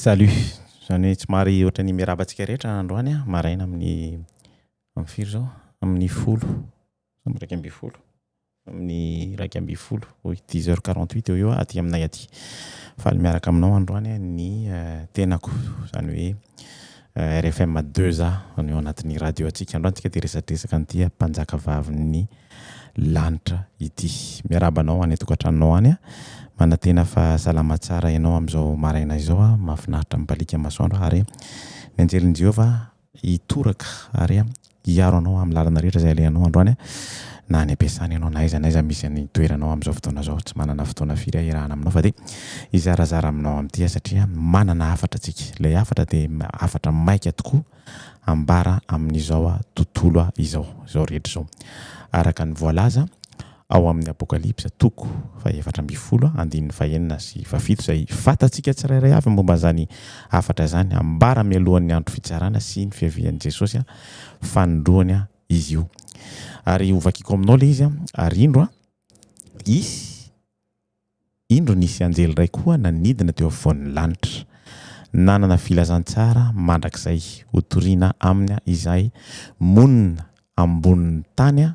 Salut! Izany hoe somary ohatry ny miarahaba antsika rehetra androany maraina amin'ny amin'ny firy izao? Amin'ny folo sa amin'ny iraika ambin'ny folo? Amin'ny iraika ambin'ny folo, oui dix heures quarante huit eo ho eo aty aminay aty. Faly miaraka aminao androany ny tenako, izany hoe. RFM deux A, ny ao anatin'ny radio antsika androany tsika dia resadresaka an'ity mpanjaka vavin'ny lanitra ity. Miarahaba anao any an-tokantranonao any a! Manantena fa salama tsara ianao amin'izao maraina izao a! Mahafinaritra mibaliaka masoandro ary mianjely an'i Jehovah hitoraka ary hiaro anao amin'ny lalana rehetra izay alehanao androany an, na any am-piasana ianao na aiza na aiza misy ny toeranao amin'izao fotoana izao, tsy manana fotoana firy hahirahana aminao fa dia hizarazara aminao amin'ity aho satria manana hafatra tsika, ilay hafatra dia hafatra maika tokoa ambara amin'izao tontolo izao, izao rehetra izao araka ny voalaza. ao amin' ny Apôkalipsa, toko fahefatra ambin'ny folo, andininy fahenina sy fahafito, izay fantatsika tsirairay avy momba izany hafatra izany. Ambara mialohan' ny andro fitsarana sy ny fiavian' i Jesôsy fanindroany izy io. Ary hovakiko aminao ilay izy, ary indro, hisy. Indro nisy anjely iray koa nanidina teo afovoan'ny lanitra. Nanana filazantsara mandrakizay hotoriana aminy izahay monina ambonin'ny tany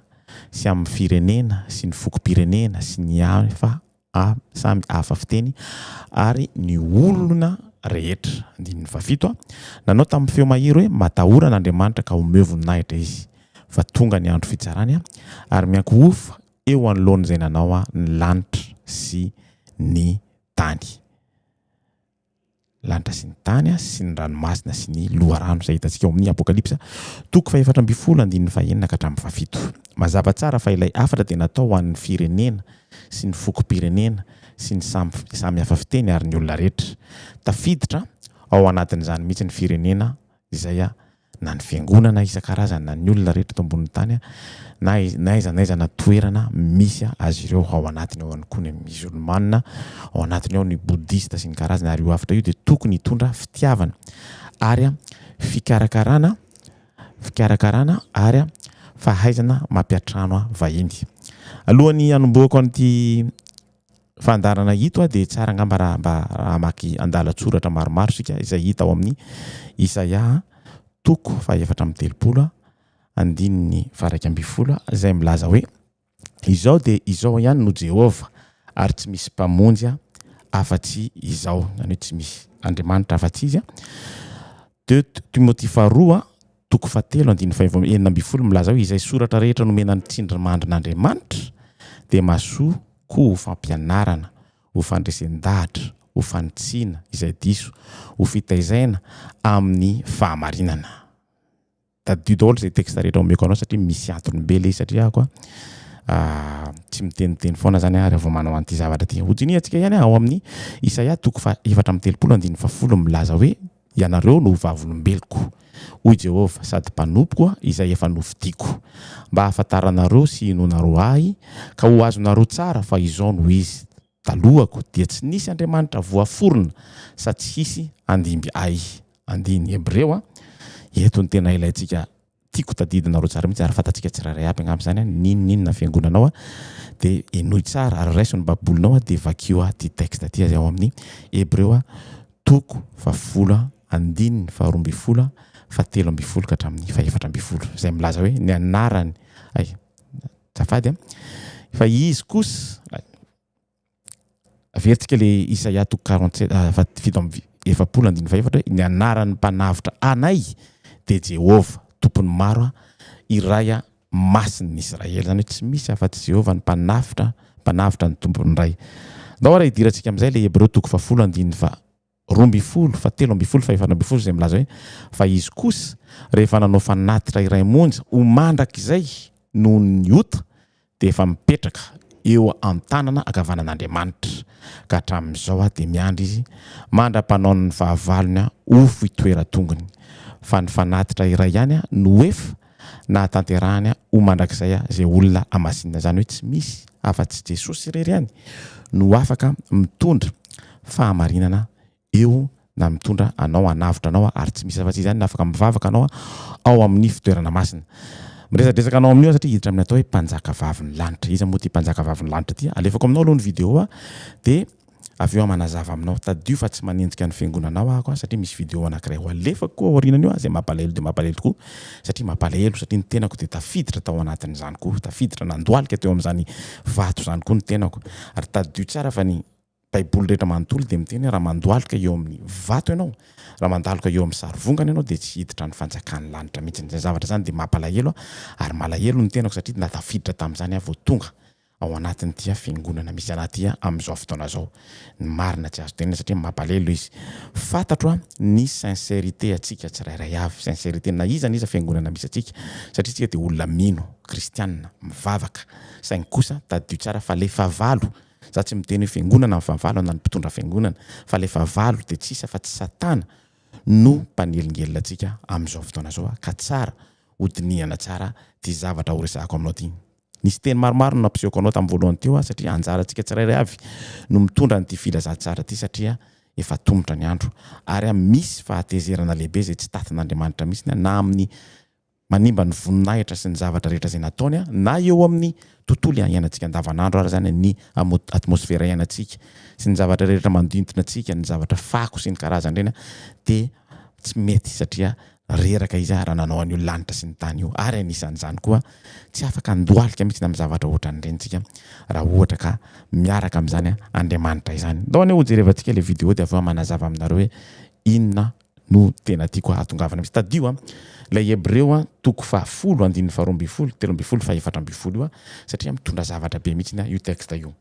sy amin'ny firenena sy ny fokom-pirenena sy ny hafa samy hafa fiteny ary ny olona rehetra. Andininy fahafito, Nanao tamin'ny feo mahery hoe, Matahora an'Andriamanitra ka omeo voninahitra izy, fa tonga ny andro fitsarany, ary miankohoka eo anoloan'izay nanao ahy ny lanitra sy ny tany. Lanitra sy ny tany sy ny ranomasina sy ny loharano, izay hitantsika ao amin'ny Apokalypsa toko fahefatra ambin'ny folo andininy fahenina ka hatramin'ny fahafito. Mazava tsara fa ilay hafatra dia natao ho an'ny firenena sy ny fokom-pirenena sy ny samy samy hafa fiteny ary ny olona rehetra. Tafiditra ao anatin'izany mihitsy ny firenena izay na ny fiangonana isan-karazany na ny olona rehetra eto ambonin'ny tany na n'aiza n'aiza na toerana misy azy ireo, ao anatiny ao ihany koa ny Mizolmana, ao anatiny ao ny Bodista sy ny karazany, ary io hafatra io dia tokony hitondra fitiavana ary fikarakarana, fikarakarana ary fahaizana mampiantrano vahiny. Alohan'ny hanombohako an'ity fandaharana ito dia tsara angamba raha mba hamaky andalan-tsoratra maromaro isika izay hita ao amin'ny Isaia toko fahefatra amby telopolo andininy faraika ambin'ny folo izay milaza hoe izao dia izao ihany no Jehovah ary tsy misy mpamonjy afa-tsy izao izany hoe tsy misy Andriamanitra afa-tsy izy Timoty faharoa Toko fahatelo andininy fahefatra amby enina ambin'ny folo milaza hoe, Izay soratra rehetra nomena ny tsindrimandrin'Andriamanitra dia mahasoa koa ho fampianarana, ho fandresen-dahatra, ho fanitsiana izay diso, ho fitaizaina amin'ny fahamarinana. Tadidio daholo izay texte rehetra omeko anao satria misy antony be ilay izy satria ako tsy miteniteny foana zany aho rehefa manao an'ity zavatra ity. Hojiniantsika ihany ao amin'ny Isaia toko faha efatra amby telopolo andininy fahafolo milaza hoe, Ianareo no ho vavolombeloko, hoy Jehovah, sady mpanompoko, izay efa nofidiako, mba hahafantaranareo sy hinoanareo ahy, ka ho azonareo tsara fa izao no izy, Talohako dia tsy nisy andriamanitra voaforona, sady tsy hisy handimby ahy. Andininy Hebreo, Eto ny tena ilaintsika Tiako tadidinareo tsara mihitsy ary fantatsika tsirairay aby angamba izany an, n'inona n'inona fiangonanao an, dia henoy tsara ary raiso ny babolinao an, dia vakio an ity texte ity izay ao amin'ny Hebreo an, toko fahafolo an, andininy faharoa ambin'ny folo an, fahatelo ambin'ny folo ka hatramin'ny fahefatra ambin'ny folo, izay milaza hoe ny anarany, hay, azafady an, fa izy kosa, hay. Averitsika le Isaia toko quarante sept ah, va- fito amby efapolo andininy fahefatra hoe ny anaran'ny mpanavotra anay dia Jehovah, Tompon'ny maro ah, iray ah, Masin'ny Israely. Izany hoe tsy misy afa-tsy Jehovah ny mpanavotra, mpanavotra ny Tompon'ny Ray. Andao ary hidirantsika amin'izay le Hebreo toko fahafolo andininy faha roa ambin'ny folo fa telo ambin'ny folo fa efatra ambin'ny folo izay milaza hoe fa izy kosa rehefa nanao fanatitra iray monja ho mandrakizay noho ny ota dia efa mipetraka eo an-tanana ankavanan'Andriamanitra ka hatramin'izao aho dia miandry izy mandra-panaon'ny fahavalony aho ho foitoeran-tongony fa ny fanatitra iray ihany aho no efa nahatanterahany ho mandrakizay izay olona hamasinina, izany hoe tsy misy afa-tsy Jesosy irery ihany no afaka mitondra fahamarinana eo na mitondra anao hanavotra anao ary tsy misy afa-tsy izany no afaka mivavaka anao ao amin'ny fitoerana masina miresadresaka anao amin'io satria hiditra amin'ny atao hoe mpanjaka vavin'ny lanitra iza moa ity mpanjaka vavin'ny lanitra ity alefako aminao aloha ny vidéo dia avy eo aho manazava aminao, tadidio fa tsy manenjika ny fiangonanao aho aho satria misy video anankiray ho alefako aorianan'io aho izay mampalahelo dia mampalahelo tokoa satria mampalahelo satria ny tenako dia tafiditra tao anatin'izany koa, tafiditra nandohalika teo amin'izany vato izany koa ny tenako ary tadidio tsara fa ny baiboly rehetra manontolo dia miteny hoe raha mandohalika eo amin'ny vato ianao, raha mandaloka eo amin'ny sarivongana ianao dia tsy hiditra ny fanjakan'ny lanitra mihitsy, izany zavatra izany dia mampalahelo aho ary malahelo ny tenako satria tafiditra tamin'izany aho vao tonga ao anatin'ity fiangonana misy anah ity amin'izao fotoana izao. Ny marina tsy azo tenenina satria mampalelo izy. Fantatro ny sincérité antsika tsirairay avy, sincérité na iza na iza fiangonana misy antsika satria isika dia olona mino, kristiana, mivavaka. Saingy kosa tadidio tsara fa le fahavalo, za tsy miteny hoe fiangonana ny fahavalo na ny mpitondra fiangonana fa le fahavalo dia tsy iza afa tsy satana no mpanelingelina antsika amin'izao fotoana izao ka tsara ho dinihana tsara ity zavatra horesahako aminao ity. Nisy teny maromaro no nampisehoako anao tamin'ny voalohany teo aho satria anjarantsika tsirairay avy no mitondra an'ity filazantsara ity satria efa tomotra ny andro ary aho misy fahatezerana lehibe izay tsy tatin'Andriamanitra mihitsy na amin'ny manimba ny voninahitra sy ny zavatra rehetra izay nataony na eo amin'ny tontolo iainantsika andavanandro ary izany ny atmosfera iainantsika sy ny zavatra rehetra mandintina antsika ny zavatra fako sy ny karazan'ireny dia tsy mety satria Reraka izy ary nanao an'io lanitra sy ny tany io ary anisan'izany koa tsy afaka handohalika mihitsy amin'ny zavatra ohatran'ireny isika raha ohatra ka miaraka amin'izany Andriamanitra izany. Andao anie hojerevantsika ilay video dia avy eo manazava aminareo hoe inona no tena tiako hahatongavana mihitsy. Tadidio an, ilay Hebreo an, toko fahafolo, andininy faharoa ambin'ny folo, telo ambin'ny folo, fahefatra ambin'ny folo io an, satria mitondra zavatra be mihitsy io texte io.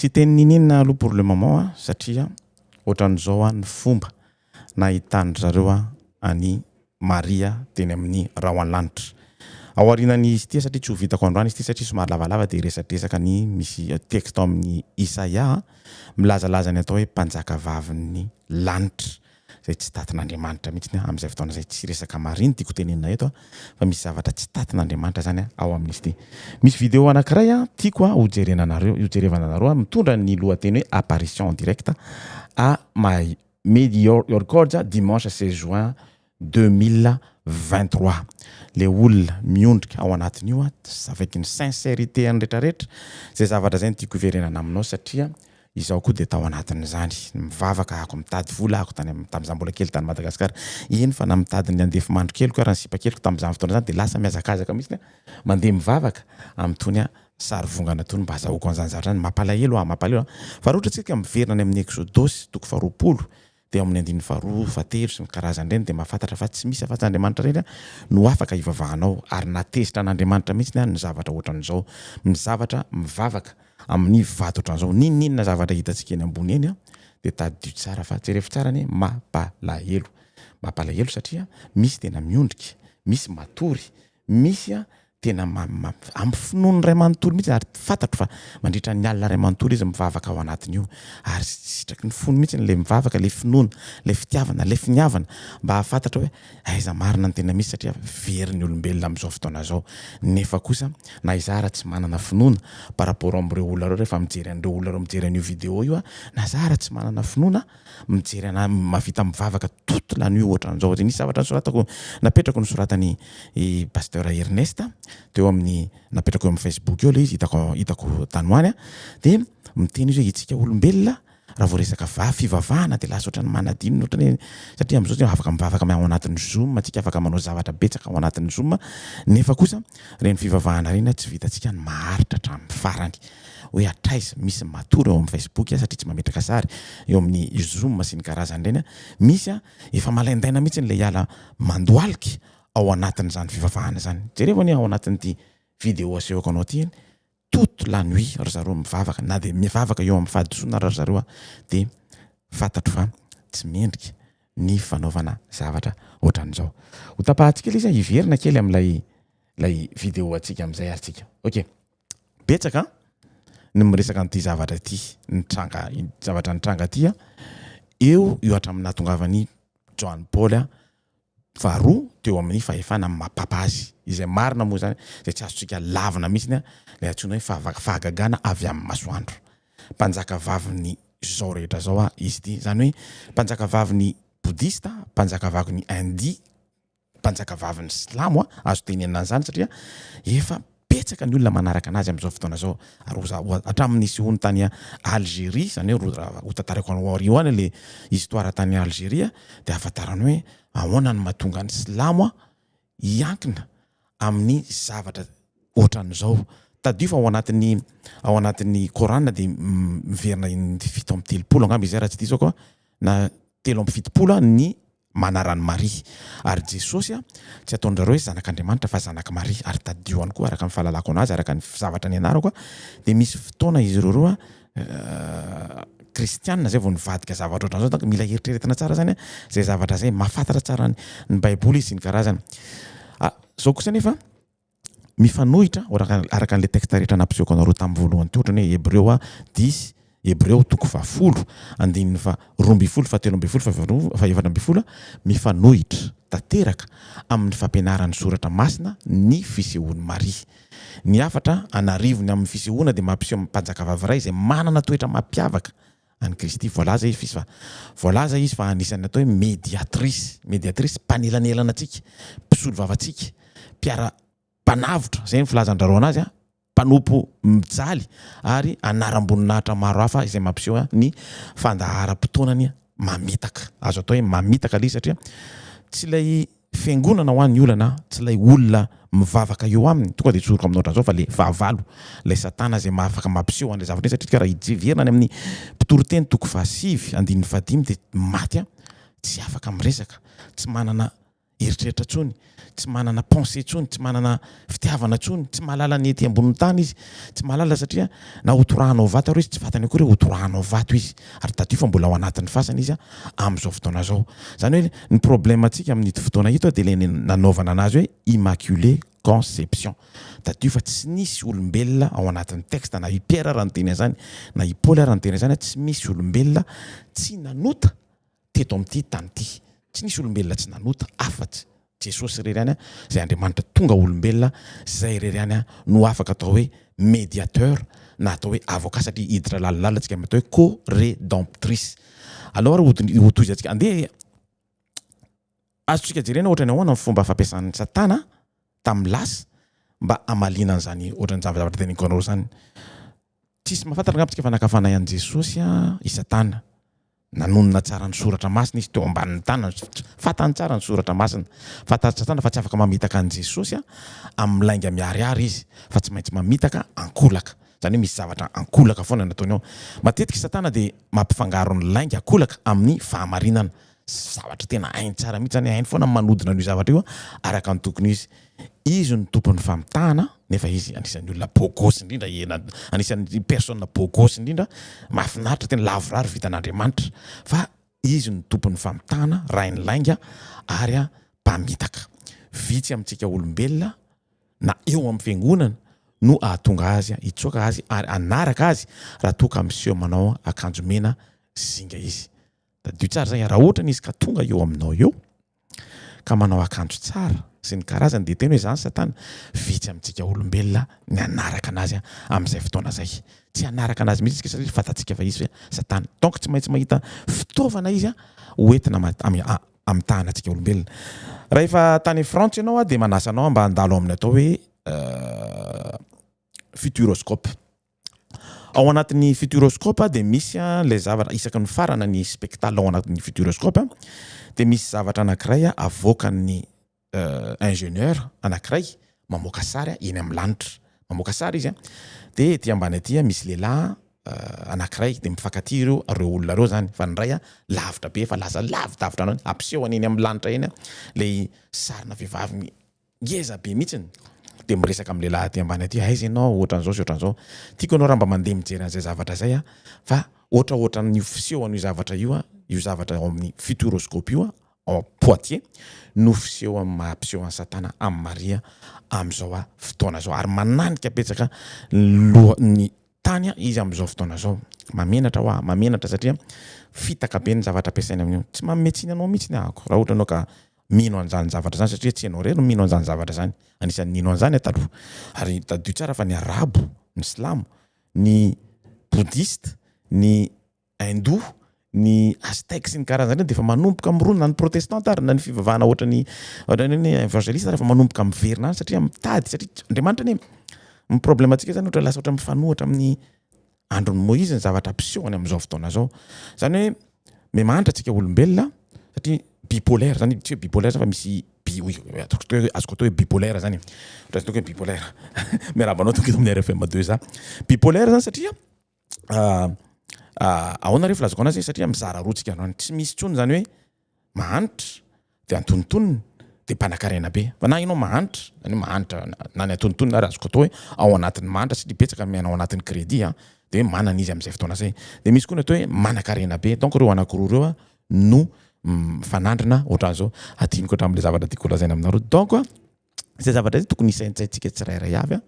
tsy teny nininina aloha pour le moment a satria ohatran'izao a ny fomba nahitany zareo a any Maria teny amin'ny rahona lanitra. Ao aorianan'izy ity satria tsy ho vitako androany izy ity satria somary lavalava dia resadresaka ny misy texte ao amin'ny Isaia milazalaza ny atao hoe mpanjakavavin'ny lanitra izay tsy tatin'Andriamanitra mihitsy ny amin'izay fotoana izay. Tsy resaka Maria no tiako tenenina eto fa misy zavatra tsy tatin'Andriamanitra izany ao amin'izy ity. Misy video anankiray tiako ho jerenanareo, ho jerevana anareo mitondra ny lohateny hoe apparition en direct à Made your your records dimanche seize juin deux mille vingt trois le olona miondrika ao anatiny io avec ny sincerite ny retraretra zay zavatra zay no tiako hiverenana aminao satria izaho koa dia tao anatin'izany mivavaka ako mitady vola ako tany am tamzah mbola kely tany Madagascar eny fa na mitady ny andefy mandro keliko ary ny sipa keliko tamzany fotoana zany dia lasa mihazakazaka mihitsy mandeha mivavaka am tony Sary vongana toy ny mba azahoako an'izany zavatra izany. Mampalahelo aho, mampalahelo aho. Fa raha ohatra isika miverina any amin'ny Eksodosy toko faharoapolo dia ao amin'ny andininy faharoa, fahatelo sy ny karazany ireny dia mahafantatra fa tsy misy afa-tsy Andriamanitra irery no afaka hivavahanao ary na tezitra an'Andriamanitra mihitsy ny ny zavatra ohatran'izao ny zavatra mivavaka amin'ny vato ohatran'izao n'inon'inona zavatra hitantsika eny ambony eny dia tadidio tsara fa jereo tsara anie mampalahelo mampalahelo satria misy tena miondrika misy matory misy a tena amin'ny finoany iray manontolo mihitsy ary fantatro fa mandritra ny alina iray manontolo izy mivavaka ao anatin'io ary sitraky ny fony mihitsy ilay mivavaka ilay finoana ilay fitiavana ilay finiavana mba hahafantatra hoe aiza marina ny tena misy satria very ny olombelona amin'izao fotoana izao nefa kosa na izaho raha tsy manana finoana par rapport amin'ireo olona ireo rehefa mijery an'ireo olona ireo mijery an'io vidéo io aho na izaho raha tsy manana finoana mijery anah mavita mivavaka toute la nuit ohatran'izao de nisy zavatra nosoratako napetrako nosoratan'i i Pasteur Ernest teo amin'ny napetrako eo amin'ny Facebook eo le izy hitako hitako tany ho any a de miteny izy hoe itsika olombelona raha vao resaka va- fivavahana de lasa ohatran'ny manadino ohatran'ny hoe satria am'zao tsy afaka mivavaka am- ao anatin'ny zoom antsika afaka manao zavatra betsaka ao anatin'ny zoom nefa kosa reny fivavahana reny a tsy vitantsika ny maharitra hatramin'ny farany hoe hatraiza misy matory ao amin'ny Facebook aho satria tsy mametraka sary eo amin'ny zoom sy ny karazany ireny aho. Misy aho efa malaindaina mihitsy ilay hiala mandohalika ao anatin'izany fivavahana izany. Jerevo anie ao anatin'ity vidéo asehoko anao ity anie, toute la nuit ry zareo mivavaka, na dia mivavaka eo amin'ny fahadisoana ary ry zareo aho dia fantatro fa tsy mendrika ny fanaovana zavatra ohatran'izao. Ho tapahantsika ilay izy an, hiverina kely amin'ilay ilay vidéo antsika amin'izay ary tsika. Ok. betsaka ny miresaka an'ity zavatra ity nitranga zavatra nitranga ity a eo io hatramin'ny nahatongavan'i Joany Paoly a faharoa teo amin'ny fahefana amin'ny mapapa azy izay marina moa izany izay tsy azontsika lavina mihitsy a ilay antsoina hoe fahavaka fahagagana avy amin'ny masoandro mpanjaka vavin'ny zao rehetra zao a izy ity izany hoe mpanjaka vavin'ny bodista mpanjaka vavin'ny india mpanjakavavin'ny silamo azo tenenina an'izany satria efa betsaka ny olona manaraka anazy amin'izao fotoana izao ary oza hatramin'ny nisehoany tany Algérie izany hoe raha hotantarako anao aoriho any ilay histoire tany Algérie dia hahafantarana hoe ahoana no mahatonga ny silamo hiankina amin'ny zavatra ohatran'izao tadidio fa ao anatin'ny ao anatin'ny Coran dia miverina indry fito amby telopolo angamba izay raha tsy diso aho na telo amby fitopolo ny Manara an'i Maria. Ary Jesosy tsy ataon-dry zareo hoe zanak'Andriamanitra fa zanak'i Maria. Ary tadidio ihany koa, araka ny fahalalako an'azy, araka ny zavatra nianarako, dia misy fotoana izy ireo roa kristiana izay vao nivadika zavatra ohatran'izao. Donc mila heritreretina tsara izany izay zavatra izay. Mahafantatra tsara ny Baiboly izy sy ny karazany. Izao kosa anefa, mifanohitra araka an'ilay texte rehetra nampisehoako anareo tamin'ny voalohany teo ohatrany hoe Hebreo a dix, Hebreo toko fahafolo, andininy faha roa ambin'ny folo, fahatelo ambin'ny folo, faharoa, fahaefatra ambin'ny folo a, mifanohitra tanteraka amin'ny fampianaran'ny soratra masina ny fisehoan'i Maria. Ny hafatra an'arivony amin'ny fisehoana dia mampiseho mpanjakavavy iray izay manana toetra mampiavaka an'i Kristy. Voalaza izy fa voalaza izy fa anisan'ny atao hoe mediatrice, mediatrice, mpanelanelana antsika, mpisolo vava antsika, mpiara, mpanavotra, izay ny filazan-dRarao anazy, mpanompo mijaly ary anaram-boninahitra maro hafa izay mampiseho ny fandaharam-potoanany mamitaka. Azo atao hoe mamitaka le izy satria tsy ilay Fiangonana ho an ny olana tsy ilay olona mivavaka eo aminy tonga dia tsoriko aminao drazao fa le fahavalo ilay satana izay mahafaka mampiseho an'ilay zavatra iny satria tsika raha hijeverina any amin'ny mpitoriteny toko fahasivy andininy fahadimy dia maty an tsy afaka miresaka tsy manana eritreritra tsony tsy manana pensee tsony tsy manana fitiavana intsony, tsy mahalala ny ety ambonin'ny tany izy, tsy mahalala satria na hotorahana ho vato ary izy, tsy vatany akory, hotorahana ho vato izy, ary tadidio fa mbola ao anatin'ny fasana izy amin'izao fotoana izao. Izany hoe ny problemantsika amin'ito fotoana ito dia ilay nanaovana anazy hoe immaculé conception. Tadidio fa tsy nisy olombelona ao anatin'ny texte, na i Pierre ara niteny an'izany, na i Paoly ara niteny an'izany, tsy misy olombelona tsy nanota, teto amin'ity tany ity. Tsy nisy olombelona tsy nanota afatsy Jesosy irery ihany izay Andriamanitra tonga olombelona, izay irery ihany no afaka atao hoe mediateur na atao hoe avocat satria hiditra lalindalina antsika amin'ny atao hoe co-redemptrice. Aleo ary hotohizantsika, andeha azontsika jerena ohatran'ny ahoana ny fomba fampiasan'i Satana tamin'ny lasa mba hamaliana an'izany ohatran'ny zavatra teneniko anareo izany. Tsisy mahafantatra angamba tsika fa nakavanay an'i Jesosy i Satana. Nanonona tsara ny Soratra Masina izy teo ambanin'ny tanany. Fantany tsara ny Soratra Masina. Fantatr'i Satana fa tsy afaka mamitaka an'i Jesosy amin'ny lainga miharihary izy, fa tsy maintsy mamitaka ankolaka. Izany hoe misy zavatra ankolaka foana nataony ao. Matetika i Satana dia mampifangaro ny lainga ankolaka amin'ny fahamarinana. zavatra tena hainy tsara mihitsy zany, hainy foana ny manodina an'io zavatra io araka ny tokony ho izy. Izy no tompon'ny famitahana nefa izy anisan'ny olona beau gosse indrindra ena anisan'ny personne beau gosse indrindra, mahafinaritra tena lavorary vitan'Andriamanitra fa izy no tompon'ny famitahana, rain'ny lainga ary mpamitaka. Vitsy amintsika olombelona na eo amin'ny fiangonana no hahatonga azy hitsoaka azy ary hanaraka azy raha toa ka miseho manao akanjo mena zinga izy. Tadidio tsara izay, raha ohatra izy ka tonga eo aminao eo ka manao akanjo tsara sy ny karazany dia tena hoe izany satana, vitsy amintsika olombelona ny hanaraka anazy amin'izay fotoana izay, tsy hanaraka anazy mihitsy isika satria fantatsika fa izy ve satana, donc tsy maintsy mahita fitaovana izy ho entina hamitahana antsika olombelona, raha efa tany Frantsa ianao aho dia manasa anao mba handalo amin'ny atao hoe futuroscope. Ao anatin'ny futuroscope dia misy ilay zavatra isaky ny farana ny spectacle ao anatin'ny futuroscope dia misy zavatra anankiray avoakan'ny ingénieur anankiray mamoaka sary eny amin'ny lanitra. Mamoaka sary izy dia ety ambany ety misy lehilahy anankiray dia mifankatia ireo ireo olona ireo izany fa ny iray lavitra be efa lasa lavidavitra an'ireo hampiseho any amin'ny lanitra eny ilay sarina vehivavy Ngeza be mihitsiny de miresaka amin'ny lehilahy aty ambany aty aiza ianao ohatran'izao sy ohatran'izao tiako ianao raha mba mandeha mijery an'izay zavatra izay a fa ohatra ohatran'io fiseho an'io zavatra io a io zavatra ao amin'ny futuroscope io a ao am poitiers no fiseho amin'ny maha mpiseho an'i satana amin'i maria amin'izao a fotoana izao ary mananika betsaka loha ny tany a izy amin'izao fotoana izao mamenatra hoa mamenatra satria fitaka be ny zavatra ampiasaina amin'io tsy manome tsiny anao mihitsy ny ahako raha ohatra ianao ka mino an'izany zavatra izany satria tsy ianao irery no mino an'izany zavatra izany. Anisan'ny nino an'izany aho taloha. Ary tadidio tsara fa ny Arabo, ny Silamo, ny Boudhiste, ny Hindou, ny Aztèques sy ny karazany ireny dia efa manomboka mirona, na ny Protestanta ary na ny fivavahana ohatran'ny ohatran'ny hoe ny Evangeliste ary efa manomboka miverina any satria mitady satria Andriamanitra anie ny problème-ntsika izany ohatra lasa ohatra mifanohitra amin'ny andron'i Moizy ny zavatra mpiseho any amin'izao fotoana izao. Izany hoe miha-mahantra antsika olombelona satria bipolaire izany tsy hoe bipolaire izany fa misy bi oui azoko atao hoe azoko atao hoe bipolaire izany e. Ohatran'ny ataoko hoe bipolaire. Miarahaba anao tompoko eto amin'ny RFM 2 za. Bipolaire izany satria ahoana re filazako anazy e satria mizara roa tsika androany tsy misy intsony izany hoe mahanitra dia antonontonony dia mpanakarena be fa na ianao mahanitra zany hoe mahanitra na ny antonontonony ary azoko atao hoe ao anatin'ny mahanitra satria betsaka miaina ao anatin'ny crédit a dia hoe manana izy amin'izay fotoana zay dia misy koa ny atao hoe manankarena be donc ireo anankiroa ireo a no mifanandrina ohatran'izao hadinoko hatramin'ilay zavatra tiako holazaina aminareo donc izay zavatra izay tokony hisaintsaintsika tsirairay avy a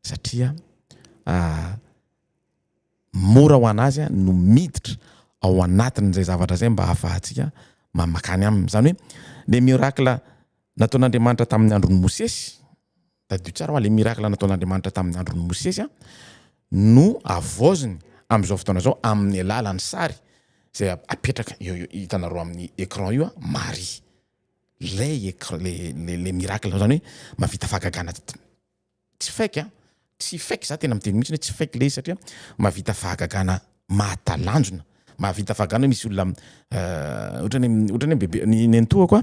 satria mora ho an'azy no miditra ao anatin'izay zavatra izay mba hahafahantsika mamakany aminy. Izany hoe le miracle nataon'Andriamanitra tamin'ny andron'i Mosesy, tadidio tsara hoa le miracle nataon'Andriamanitra tamin'ny andron'i Mosesy a, no havaoziny amin'izao fotoana izao amin'ny alalan'ny sary izay apetraka eo eo hitanareo amin'ny écran io a, Maria. Lay écr- le le le miracle, izany hoe mahavita fahagagana. Tsy fake an! Tsy fake, za tena miteny mihitsiny hoe tsy fake le izy satria mahavita fahagagana mahatalanjona, mahavita fahagagana hoe misy olona ohatrany hoe ohatrany hoe bebe ny nenitoako a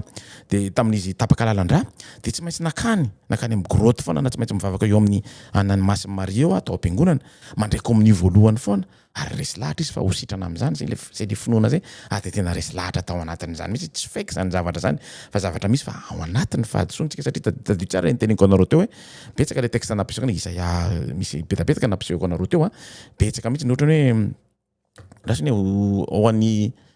de tamin'izy tapaka lalandrà de tsy maintsy nakany nakany amin'ny grotte foana na tsy maintsy mivavaka eo amin'ny an'ny masin'i Maria eo aho tao am-piangonana mandray komonio voalohany foana ary resy lahatra izy fa ho sitrana amin'izany zay le zay le finoana zay ary de tena resy lahatra tao anatin'izany mihitsy tsy fake zany zavatra zany fa zavatra misy fa ao anatin'ny fahadisoantsika satria ta- tadidio tsara ny teneniko anareo teo hoe betsaka le texte nampisehoana Isaia misy betapetaka nampisehoko anareo teo a betsaka mihitsy ny ohatran'ny hoe andraso anie ho ho an'ny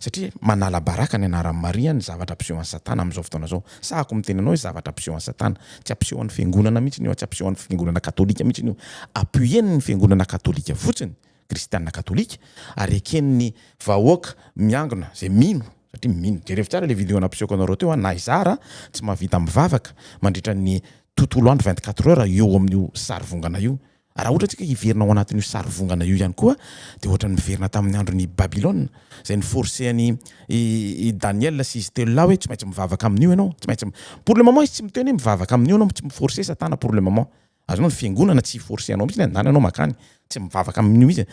Satria manala baraka ny anaran'i Maria ny zavatra ampisehoan'i Satana amin'izao fotoana izao. Sahako ny miteny anao hoe zavatra ampisehoan'i Satana. Tsy ampisehoan'ny Fiangonana mihitsiny io, tsy ampisehoan'ny Fiangonana Katolika mihitsiny io. Appuien'ny Fiangonana Katolika fotsiny, Kristiana Katolika, ary eken'ny vahoaka miangona izay mino, satria mino. Jerevo tsara ilay video nampisehoako anareo teo an, na izaho raha tsy mahavita mivavaka mandritra ny tontolo andro vingt-quatre heures eo amin'io sarivongana io, Raha ohatra isika hiverina ao anatin'io sarivongana io ihany koa dia ohatran'ny miverina tamin'ny andron'i Babylona izay ni-forcer an'i i Daniel sy izy telo lahy hoe tsy maintsy mivavaka amin'io ianao, tsy maintsy pour le moment izy tsy miteny hoe mivavaka amin'io ianao, tsy mi-forcer satana pour le moment. Azonao ny fiangonana tsy hi-forcer anao mihitsy ny handany anao mankany, tsy mivavaka amin'io mihitsy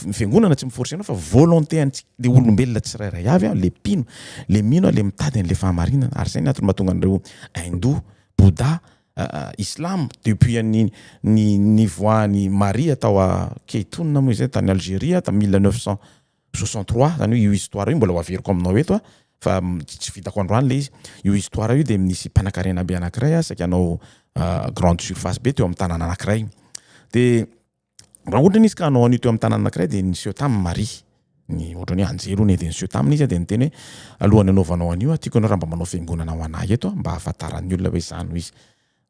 ny fiangonana tsy mi-forcer anao fa volonté antsika le olombelona tsirairay avy an, le mpino, le mino an, le mitady an'le fahamarinana ary izay ny antony mahatonga an'ireo Hindou, Bouddha, Islam depuis an'ny ny nivoahan'i Maria tao a Keytouna moa izay tany Algeria tamin'ny mille neuf cent soixante trois zany hoe io histoire io mbola ho averiko aminao eto a fa tsy vitako androany le izy io histoire io de nisy mpanankarena be anankiray a saika hanao grande surface be teo amin'ny tanàna anankiray de Raha ohatra izy ka hanao an'io teo amin'ny tanàna anankiray dia niseho taminy Maria. Ny ohatrany hoe anjely hono dia niseho taminy izy dia niteny hoe alohan'ny hanaovanao an'io aho tiako ianao raha mba manao fiangonana ho anah eto mba hahafantaran'ny olona hoe izaho no izy.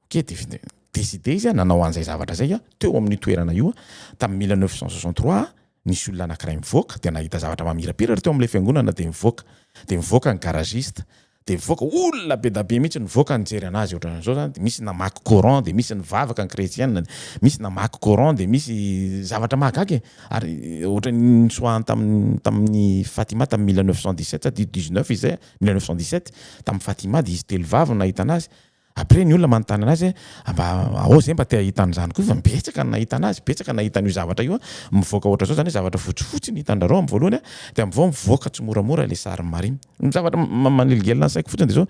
Ok, dia décidé izy nanao an'izay zavatra izay teo amin'io toerana io tamin'ny mille neuf cent soixante trois nisy olona anankiray mivoaka dia nahita zavatra mamirapiratra teo amin'ilay fiangonana dia nivoaka dia nivoaka ny garagiste dia mivoaka olona be da be mihitsy nivoaka nijery anazy ohatran'izao zany dia misy namaky coran dia misy nivavaka ny chrétienne dia misy namaky coran dia misy zavatra mahagaga e! ary ohatran'ny nitsoahany tamin'ny tamin'ny Fatima tamin'ny mille neuf cent dix sept sa dix neuf izay mille neuf cent dix sept tamin'ny Fatima dia izy telo vavy no nahita anazy Après ny olona manontany anazy hoe a mba ao zay mba te ahita an'izany koa fa betsaka ny nahita anazy, betsaka ny nahita an'io zavatra io a, mivoaka ohatra zao zany hoe zavatra fotsifotsy ny hitan'drareo amin'ny voalohany a, dia amin'izao mivoaka tsimoramora ilay sarin'i Maria. Ny zavatra manelingelina ny saiko fotsiny dia zao,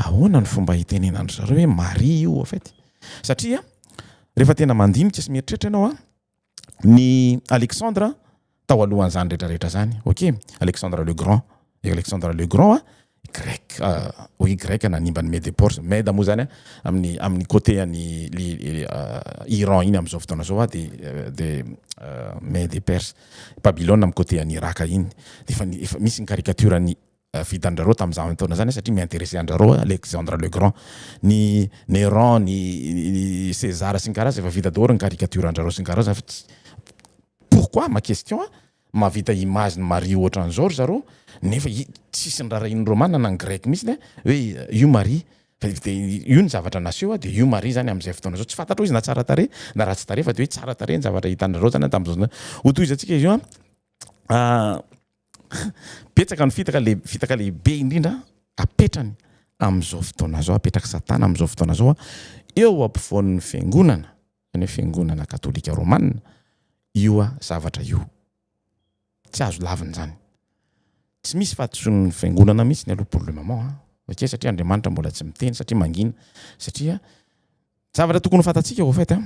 ahoana ny fomba hitenenan'dry zareo hoe Maria io au fait? Satria rehefa tena mandinika sy mieritreritra ianao a, ny Alexandre tao alohan'izany rehetra rehetra zany ok Alexandre le grand i Alexandre le grand a grec hoy grec nanimba ny mede porse mede moa zany a amin'ny amin'ny côté an'i Iran iny amin'izao fotoana izao a de de mede perse babylone amin'ny côté an'i Iraka iny de efa efa misy ny caricature an'i vitan-drareo tamin'izany fotoana izany satria mi-interesser an-drareo Alexandre le Grand, ny Néron, ny César sy ny karaza efa vita daholo ny caricature an-drareo sy ny karaza fa tsy pourquoi ma question a? mahavita image ny Maria ohatran'izao ry zareo nefa tsisy nirarahian'ny Romana na ny Grec mihitsy hoe io Maria fa de io ny zavatra naseho de io Maria zany amin'izay fotoana zao tsy fantatrao izy na tsara tarehy na ratsy tarehy fa de hoe tsara tarehy ny zavatra hitan-drareo zany an tamin'izao fotoana izao, hotohizantsika izy io an. Betsaka ny fitaka le fitaka lehibe indrindra apetrany amin'izao fotoana izao, apetrak'i Satana amin'izao fotoana izao eo ampovoan'ny fiangonana, izany hoe fiangonana katolika romana io zavatra io. Tsy azo lavina izany. Tsy misy fahadisoan'ny fiangonana mihitsy aloha pour le moment an! Satria satria Andriamanitra mbola tsy miteny satria mangina satria Zavatra tokony ho fantatsika au fait a,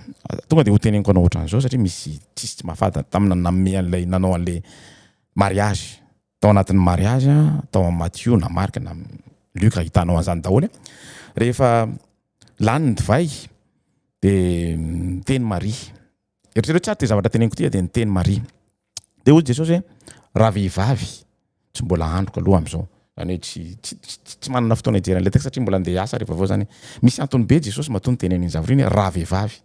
tonga dia hoteneniko anao ohatran'izao satria misy tsisy tsy mahafatta tamin'ny nanome an'ilay nanao an'ilay mariazy tao anatin'ny mariazy a, tao amin'ny Matio na Marc na Luc ahitanao an'izany daholo a, rehefa lany ny divay dia niteny Maria, eritrereto tsara ity zavatra teneniko ity a, dia niteny Maria. Dia hoy Jesosy hoe raha vehivavy tsy mbola androko aloha amin'izao. Izany hoe tsy, tsy, tsy, tsy manana fotoana hijery an'ilay texte satria mbola andeha hiasa rehefa avao izany. Misy antony be Jesosy matoa niteneniny iny zavatra iny hoe raha vehivavy.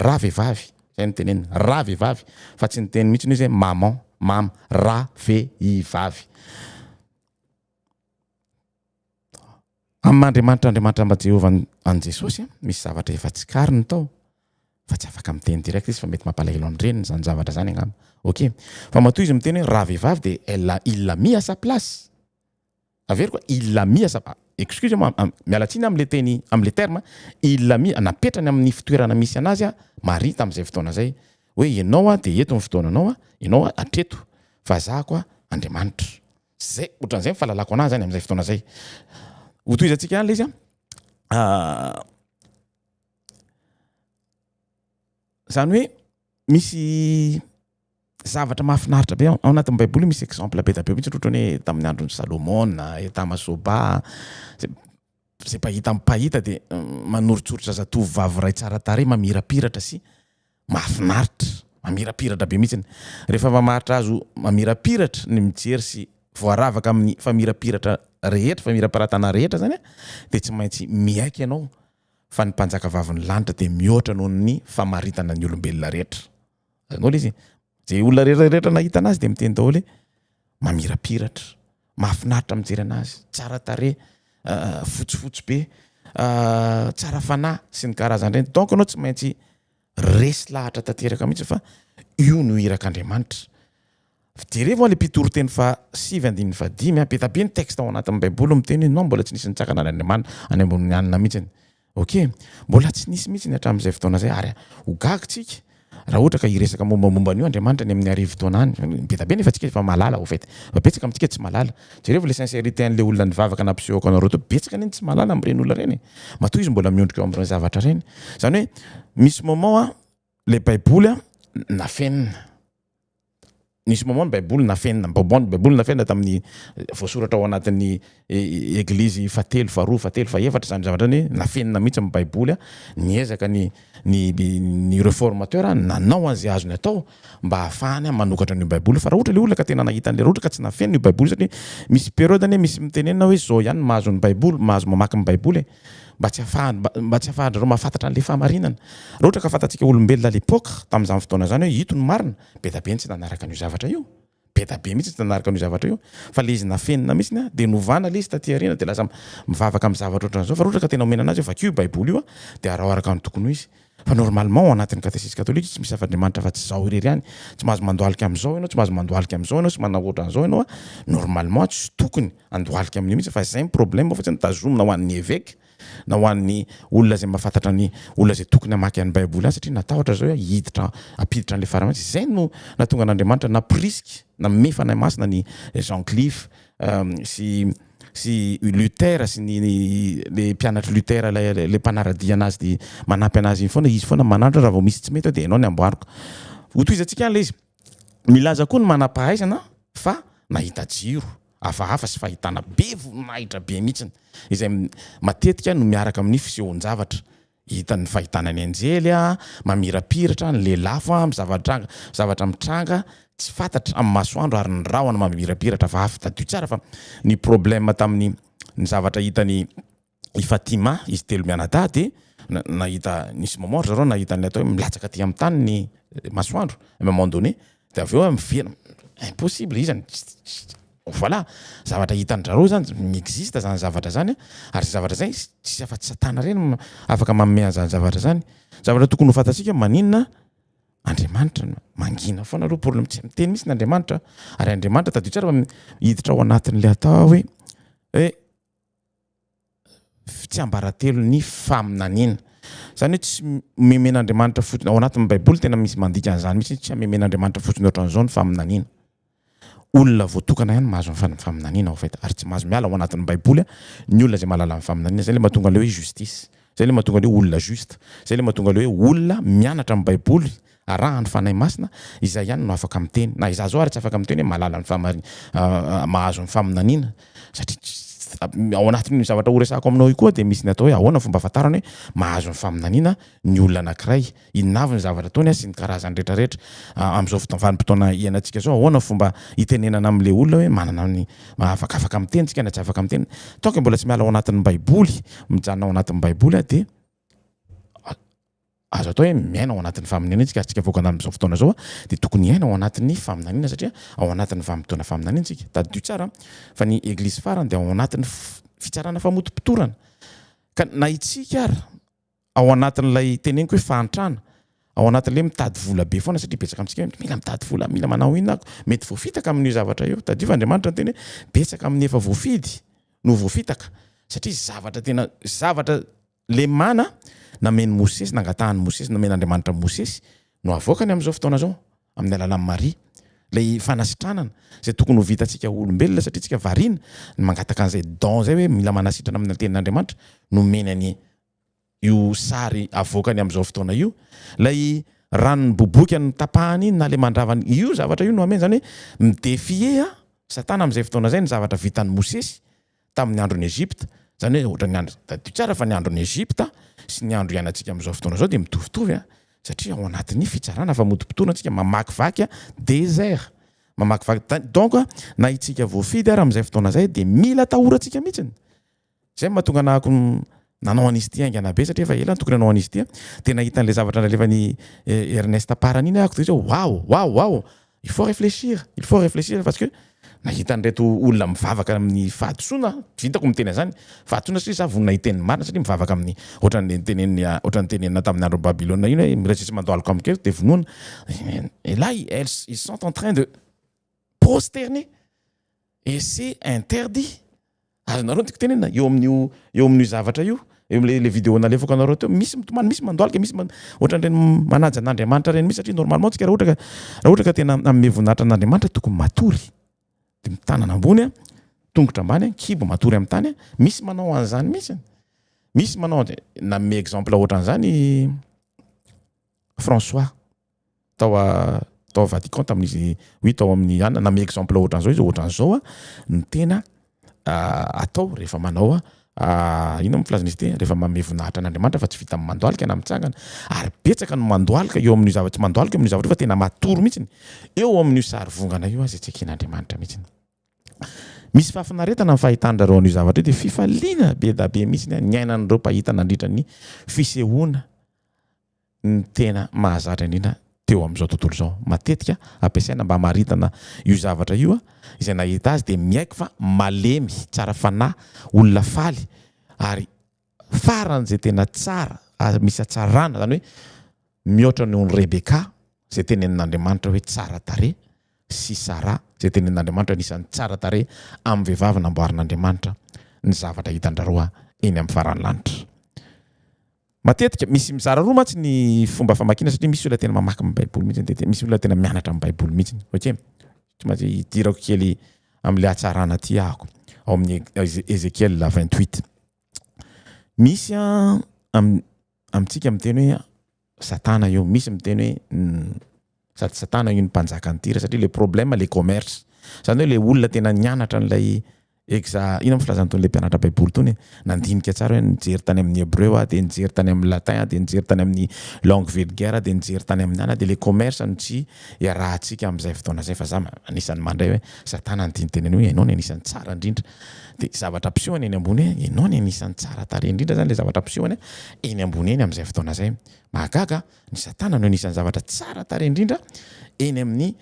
Raha vehivavy, izay no teneniny, raha vehivavy. Fa tsy niteny mihitsy izy hoe maman, mama, raha vehivavy. Amin'ny maha Andriamanitra Andriamanitra mba Jehovah an'i Jesosy a, misy zavatra efa tsikariny tao fa tsy afaka miteny direct izy fa mety mampalahelo an'i reniny izany zavatra izany angamba. Ok. Fa matoa izy miteny hoe ravehivavy dia elle a il l'a mis à sa place. Averiko a, il l'a mis à sa excuse moa a, miala tsiny a amin'ilay teny amin'ilay terme, il l'a mis, napetrany amin'ny fitoerana misy anazy a, Maria tamin'izay fotoana izay hoe ianao a dia eto ny fotoananao a, ianao a hatreto fa za koa Andriamanitra. Zay, ohatran'izay ny fahalalako anazy zany amin'izay fotoana zay. Ho tohizantsika ihany le izy an. Zany hoe misy zavatra mahafinaritra be ao anatin'ny Baiboly misy exemple be dia be mihitsy ohatran'ny hoe tamin'ny andron'i Salomona, Etama Soba, Izay mpahita amin'ny mpahita dia manoritsoritra zatovo vavy iray tsara tarehy mamirapiratra sy mahafinaritra. Mamirapiratra be mihitsy. Rehefa mamaritra azy ho mamirapiratra ny mijery sy voaravaka amin'ny famirapiratra rehetra, famirapiratana rehetra izany dia tsy maintsy miaiky ianao fa ny Mpanjakavavin'ny lanitra dia mihoatra noho ny famaritana ny olombelona rehetra. Daholo izy. Ze olona rehetra nahita anazy de miteny daholo hoe mamirapiratra, mahafinaritra mijery anazy, tsara tarehy, ah, fotsifotsy be, ah, tsara fanahy sy ny karazany reny. Donc anao tsy maintsy resy lahatra tanteraka mihitsy fa io no irak'Andriamanitra. Fijerevo le mpitory teny fa sivy andininy fa dimy, be dia be ny texte ao anatin'ny baiboly miteny hoe non mbola tsy nisy nitsangana an'Andriamanitra any ambonin'ny hanina mihitsy. Ok, mbola tsy nisy mihitsy ny hatramin'izay fotoana izay ary ho gaga tsika raha ohatra ka hiresaka mombamomba an'io Andriamanitra any amin'ny arivo taona any. Be dia be nefa tsika efa mahalala au fait. Fa betsaka amintsika tsy mahalala. Jerevo le sincérité an'ilay olona nivavaka nampisehoako anareo teo, betsaka anie ny tsy mahalala amin'ireny olona ireny e! Matoa izy mbola miondrika eo amin'ireny zavatra ireny. Izany hoe misy moment Ilay Baiboly nafenina. Nisy moment ny Baiboly nafenina, moment ny Baiboly nafenina tamin'ny voasoratra ao anatin'ny eglizy fahatelo, faharoa, fahatelo, fahefatra izany zavatra izany hoe nafenina mihitsy ny Baiboly. Niezaka ny ny ny reformateur nanao an'izay azony atao mba hahafahany manokatra an'io Baiboly io. Fa raha ohatra ilay olona ka tena nahita an'ilay, raha ohatra ka tsy nafenina io Baiboly io satria misy periode anie misy mitenenina hoe izao ihany no mahazo ny Baiboly, mahazo mamaky ny Baiboly e! mba tsy mba tsy hahafahan-dry zareo mahafantatra an'ilay fahamarinana. Raha ohatra ka fantatsika olombelona à l'époque, tamin'izany fotoana izany hoe ito ny marina, be dia be ny tsy nanaraka an'io zavatra io. Be dia be mihitsy ny tsy nanaraka an'io zavatra io. Fa ilay izy nafenina mihitsy, dia novana ilay izy taty aoriana, dia lasa mivavaka amin'ny zavatra ohatran'izao. Fa raha ohatra ka tena omena an'azy hoe vakio io Baiboly io, dia araho araka ny tokony ho izy. Fa normalement ao anatin'ny catéchisme catholique tsy misy zava-driamanitra afa-tsy izao irery ihany. Tsy mahazo mandohalika amin'izao ianao, tsy mahazo mandohalika amin'izao ianao sy manao ohatran'izao ianao a! Normalement tsy tokony handohalika amin'io mihitsy fa izay ny problème fa tsy ny tazomina ho an'ny évêque na ho an'ny olona izay mahafantatra ny olona izay tokony hamaky an'ny baiboly azy satria natahotra zao hoe hiditra hampiditra an'ilay fara mihitsy. Izay no nahatonga an'Andriamanitra nampirisika, nanome fanahy masina an'i Jean Cliff sy sy i Luther sy ny le mpianatr'i Luther ilay le mpanara-dia anazy de manampy anazy iny foana izy foana mananatra raha vao misy tsy mety ao de enao ny amboariko hotohizantsika any le izy milaza koa ny manam-pahaizana fa nahita jiro hafahafa sy fahitana be voninahitra be mihitsiny izay matetika no miaraka amin'ny fisehoan-javatra Hitan'ny fahitana ny anjely mamirapiratra, ny lelafo amin'ny zava-nitranga, zavatra mitranga tsy fantatra amin'ny masoandro ary ny rahona mamirapiratra avy avy. Tadidio tsara fa ny problème tamin'ny ny zavatra hitany i Fatima izy telo mianadahy dia nahita nisy mort zareo nahita ny atao hoe milatsaka aty amin'ny tany ny masoandro à un moment donné De avy eo miverina, impossible izy zany, voilà! zavatra hitan-drareo zany, mi-existe zany zavatra zany a, ary zay zavatra zay tsisy afa-tsy Satana irery no afaka manome an'izany zavatra zany. Zavatra tokony ho fantatsika, maninona Andriamanitra no mangina foana aloha problème, tsy miteny mihitsy ny Andriamanitra, ary Andriamanitra tadidio tsara fa hiditra ao anatin'ilay atao hoe hoe. tsiambaratelon'ny faminaniana. Izany hoe tsy memen'Andriamanitra fotsiny, ao anatin'ny Baiboly tena misy mandika an'izany mihitsy hoe tsy hamemen'Andriamanitra fotsiny ohatran'izao ny faminaniana. Olona voatokana ihany mahazo ny faminaniana en fait ary tsy mahazo miala ao anatin'ny Baiboly ny olona izay mahalala ny faminaniana. Izay ilay mahatonga an'ilay hoe justice. Izay ilay mahatonga an'io olona juste. Izay ilay mahatonga ilay hoe olona mianatra ny Baiboly, arahan' ny Fanahy Masina, izay ihany no afaka miteny. Na izaho izao ary tsy afaka miteny hoe mahalala ny fahamarin-, mahazo ny faminaniana. Satria tsy, ao anatin'io zavatra horesahako aminao io koa dia misy ny atao hoe ahoana ny fomba ahafantarana hoe mahazo ny faminaniana ny olona anankiray. Inona avy ny zavatra ataony an sy ny karazany rehetra rehetra amin'izao fotoana vanim-potoana iainantsika izao? Ahoana ny fomba hitenenana amin'ilay olona hoe manana ny maha-afaka afaka miteny tsika na tsy afaka miteny? Toaka mbola tsy miala ao anatin'ny baiboly, mijanona ao anatin'ny baiboly aho dia azo atao hoe miaina ao anatin'ny faminaniana tsika ary tsika vahoaka andaniny amin'izao fotoana izao dia tokony hiaina ao anatin'ny faminaniana satria ao anatin'ny vanim-potoana faminaniana tsika. Tadidio tsara fa ny eglizy farany dia ao anatin'ny fitsarana famotopotorana ka na itsika ary ao anatin'ilay teneniko hoe fahantrana, ao anatin'ilay hoe mitady vola be foana satria betsaka amintsika hoe mila mitady vola, mila manao inona aho, mety voafitaka amin'io zavatra io. Tadidio fa Andriamanitra niteny hoe betsaka amin'ny efa voafidy no voafitaka satria zavatra tena zavatra lemana namen'i Mosesy, nangatahan'i Mosesy, nomen'Andriamanitra an'i Mosesy no avoakany amin'izao fotoana izao amin'ny alalan'i Maria. Ilay fanasitranana izay tokony ho vitantsika olombelona satria tsika variana ny mangataka an'izay don izay hoe mila manasitrana amin'ny tenin'Andriamanitra nomeny an'i io sary avoakany amin'izao fotoana io, ilay ranon'ny boboika notapahany iny na ilay mandravany, io zavatra io no hameno, izany hoe mi-defier an, Satana amin'izay fotoana izay ny zavatra vitan'i Mosesy tamin'ny andron'i Egypta, izany hoe ohatran'ny andro, tadidio tsara fa ny andron'i Egypta sy ny andro iainantsika amin'izao fotoana izao dia mitovitovy an, satria ao anatin'ny fitsarana famotopotoana isika, mamakivaky an, desert, mamakivaky tany, donc na isika voafidy ara amin'izay fotoana izay dia mila atahorantsika mihitsy, Izay no mahatonga nahako nanao an'izy ity haingana be satria efa ela no tokony hanao an'izy ity dia nahita an'ilay zavatra nalefan'i Ernest Parany iny ahako dia hoe wow wow wow il faut réfléchir il faut réfléchir parce que nahita an'ireto olona mivavaka amin'ny fahadisoana aho tsy hitako miteny an'izany fahadisoana satria za vonona hiteny ny marina satria mivavaka amin'ny ohatran'ny niteneniny ohatran'ny nitenenina tamin'ny andron'i Babylona iny hoe miraisitra sy mandohalika amiko eto dia vonoina et là ils sont en train de prosterner et c'est interdit Azonareo ny tiako tenenina eo amin'io eo amin'io zavatra io eo amin'ilay ilay vidéo nalefako anareo teo misy mitomany misy mandohalika misy man- ohatran'ireny manaja an'Andriamanitra ireny misy satria normalement tsika raha ohatra ka raha ohatra ka tena hanome voninahitra an'Andriamanitra tokony matory de mitanana ambony a tongotra ambany a kibo matory amin'ny tany a misy manao an'izany misy misy manao an'izay nanome exemple ohatran'izany François tao a tao Vatican tamin'izy oui tao amin'ny anona na mi exemple ohatran'izao izy ohatran'izao a ny tena atao rehefa manao a inona moa filazana izy ity rehefa manome voninahitra an'Andriamanitra fa tsy vita amin'ny mandohalika na mitsangana ary betsaka no mandohalika eo amin'io zava-tsy mandohalika eo amin'io zavatra io fa tena matory mihitsy eo amin'io sary vongana io aza tsy eken'Andriamanitra mihitsy misy fahafinaretana ny fahitan-drareo an'io zavatra io dia fifaliana be da be mihitsy ny aina an'ireo mpahita nandritra ny fisehoana ny tena mahazatra indrindra teo amin'izao tontolo izao. Matetika ampiasaina mba hamaritana io zavatra io izay nahita azy dia miaiky fa malemy, tsara fanahy, olona faly ary faran'izay tena tsara ary misy hatsarana, izany hoe mihoatra noho ny Rebeka izay tenenin'Andriamanitra hoe tsara tarehy sy Sara izay tenenin'Andriamanitra anisan'ny tsara tarehy amin'ny vehivavy namboarin'Andriamanitra ny zavatra hitan-dry roa eny amin'ny faran'ny lanitra. Matetika, misy mizara roa mantsy ny fomba famakiana satria misy olona tena mamaky ny baiboly mihitsy dia misy olona tena mianatra ny baiboly mihitsy ok tsy maintsy hidirako kely amin'ilay hatsarana aty ahako ao amin'ny Ezekiel 28 misy a am, amintsika miteny hoe satana io misy miteny hoe Sady satana io ny mpanjaka an'i Tyra satria le problème le commerce. Zany hoe le olona tena nianatra an'ilay exa inona moa filazana tony le mpianatra baiboly tony e nandinika tsara hoe nijery tany amin'ny hebreu aho de nijery tany amin'ny latin aho de nijery tany amin'ny langue vulgaire aho de nijery tany amin'ny ana de le commerce no tsy iarahantsika amin'izay fotoana zay fa za anisan'ny mandray hoe satana ny tiany teneno hoe ianao ny anisan'ny tsara indrindra de zavatra ampisehoany eny ambony hoe ianao ny anisan'ny tsara tarehy indrindra zany le zavatra ampisehoany eny ambony eny amin'izay fotoana zay mahagaga Ny Satana no anisan'ny zavatra tsara tarehy indrindra eny amin'ny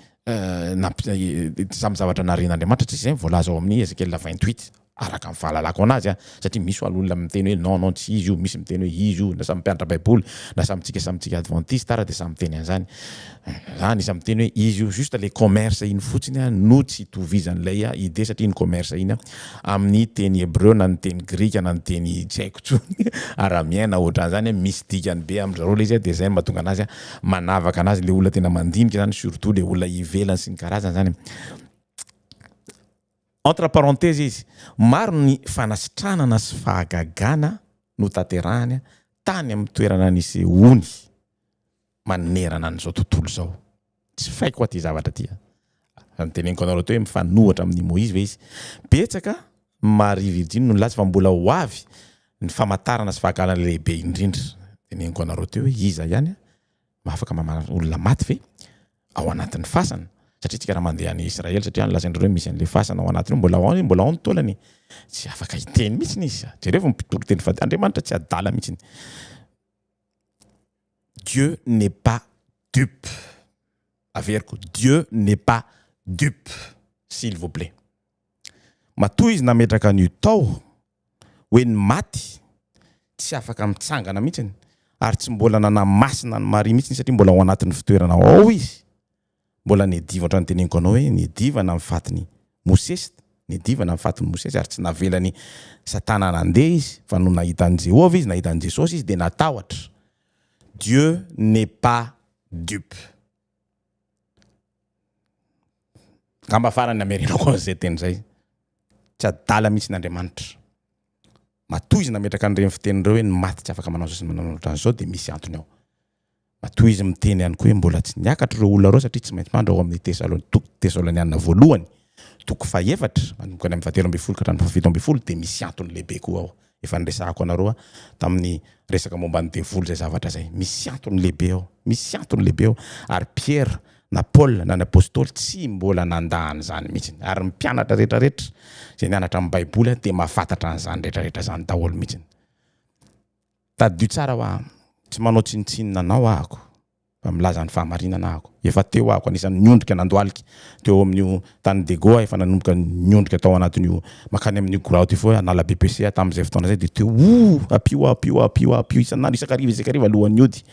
samy zavatra narian'Andriamanitra, tsy izay ny voalaza ao amin'ny Ezekiela vingt huit, araka ny fahalalako anazy an, satria misy ho'a olona miteny hoe non non tsy izy io, misy miteny hoe izy io, na samy mpianatra baiboly, na samy tsika samy tsika advantista ara dia samy miteny an'izany, za anisan'ny miteny hoe izy io, juste le commerce iny fotsiny an no tsy itovizan'ilay idée satria iny commerce iny an amin'ny teny hebreo na ny teny grika na ny teny tsy haiko tsony aramien na ohatran'izany hoe misy dikany be amin-dry zareo ilay izy dia izay no mahatonga an'azy manavaka an'azy ilay olona tena mandinika izany surtout ilay olona ivelany sy ny karazany izany entre parenthèses izy maro ny fanasitranana sy fahagagana notanterahany tany amin'ny toerana nisehoany manerana an'izao tontolo izao. Tsy faiko aty zavatra aty a! Raha noteneniko anareo teo hoe mifanohitra amin'i Moizy ve izy? Betsaka ny Maria Virjiny no nilaza fa mbola ho avy ny famatarana sy fahagagana lehibe indrindra. Teneniko anareo teo hoe iza ihany no afaka mamaly olona maty ve ao anatin'ny fasana? Satria tsika raha mandeha any Israely, satria any lazain'dry zareo misy an'le fasana ao anatiny ao, mbola ao, mbola ao ny taolany e! Tsy afaka hiteny mihitsy izy. Jerevo ny mpitoriteny fa Andriamanitra tsy adala mihitsy. Dieu n'est pas dupe. Averiko, Dieu n'est pas dupe, s'il vous plait. Matoa Izy nametraka an'io tao, hoe ny maty tsy afaka mitsangana mihitsy, ary tsy mbola nanamasina an'i Maria mihitsy, satria mbola ao anatin'ny fitoerana ao Izy, Mbola niadiva ohatrany teneniko anao hoe niadiva na ny fatiny Mosesy niadiva na ny fatiny Mosesy ary tsy navelany satana nandeha izy fa no nahita an'i Jehovah izy nahita an'i Jesosy izy dia natahotra Dieu n'est pas dupe Ngamba farany hamerenako an'izay teny izay Tsy adala mihitsy ny Andriamanitra Matoa izy nametraka an'ireny fiteny ireo hoe ny maty tsy afaka manao izao sy ny manao ohatran'izao dia misy antony ao. Matoa izy miteny ihany koa hoe mbola tsy niakatra ireo olona ireo satria tsy maintsy mandry ao amin'ny Tesalon toko Tesalonianina voalohany toko fahefatra manomboka any amin'ny fahatelo ambin'ny folo ka hatramin'ny fahafito ambin'ny folo dia misy antony lehibe koa ao efa niresahako anareo aho tamin'ny resaka momba ny devoly izay zavatra izay misy antony lehibe ao misy antony lehibe ao ary Piera na Paola na ny Apostoly tsy mbola nandà an'izany mihitsy ary ny mpianatra rehetra rehetra izay nianatra ny Baiboly dia mahafantatra an'izany rehetra rehetra izany daholo mihitsy Tadidio tsara hoa am. Tsy manao tsinontsinona anao ahako fa milaza ny fahamarinana ahako. Efa teo ahako anisan'ny niondrika nandohalika teo amin'io tany Dego aho efa nanomboka niondrika tao anatin'io makany amin'io goraoty io foa hanala BPC aho tamin'izay fotoana izay dia teo oh! Ampio aho ampio aho ampio aho ampio isan'andro isakariva isakariva alohan'ny hody.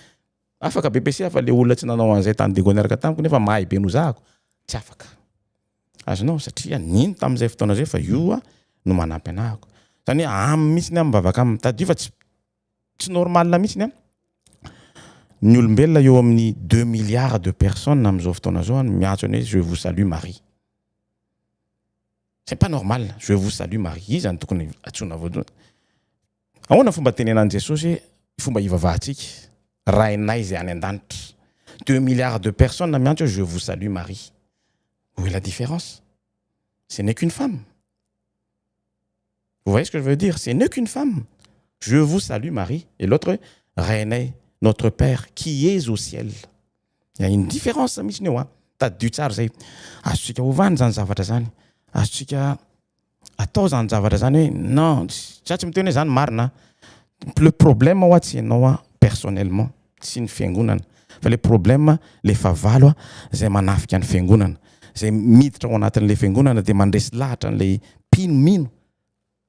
Afaka bbc fa le olona tsy nanao an'izay tany Diego niaraka tamiko nefa mahay be nozahako tsy afaka. Azonao? Satria nino tamin'izay fotoana izay fa io a no manampy anahako. Zany hoe aminy mihitsiny a mivavaka aminy. Tadidio fa tsy tsy normal mihitsiny a. Ny olombelona eo amin'ny deux milliards de personnes amin'izao fotoana izao no miantso an'i hoe je vous salue Marie. C'est pas normal, je vous salue Marie. Iza no tokony antsoina voalohany? Ahoana ny fomba nitenenan'i Jesosy hoe ny fomba hivavahantsika, Rainay izay any an-danitra. Deux milliards de personnes miantso hoe Je vous salue Marie. Où est la différence? Ce n'est qu'une femme. Vous voyez ce que je veux dire? Ce n'est qu'une femme. Je vous salue Marie. Et l'autre hoe Rainay, notre Père qui es au ciel. Il y a une différence mihitsiny eo an. Tadidio tsara izay. Azontsika ovana izany zavatra izany. Azontsika atao zany zavatra zany hoe non za tsy miteny hoe zany marina a le problème hoa tsy ianao a personnellement tsy ny fiangonana fa le problème le fahavalo a zay manafika ny fiangonana zay miditra ao anatin'le fiangonana de mandresy lahatra an'le mpino mino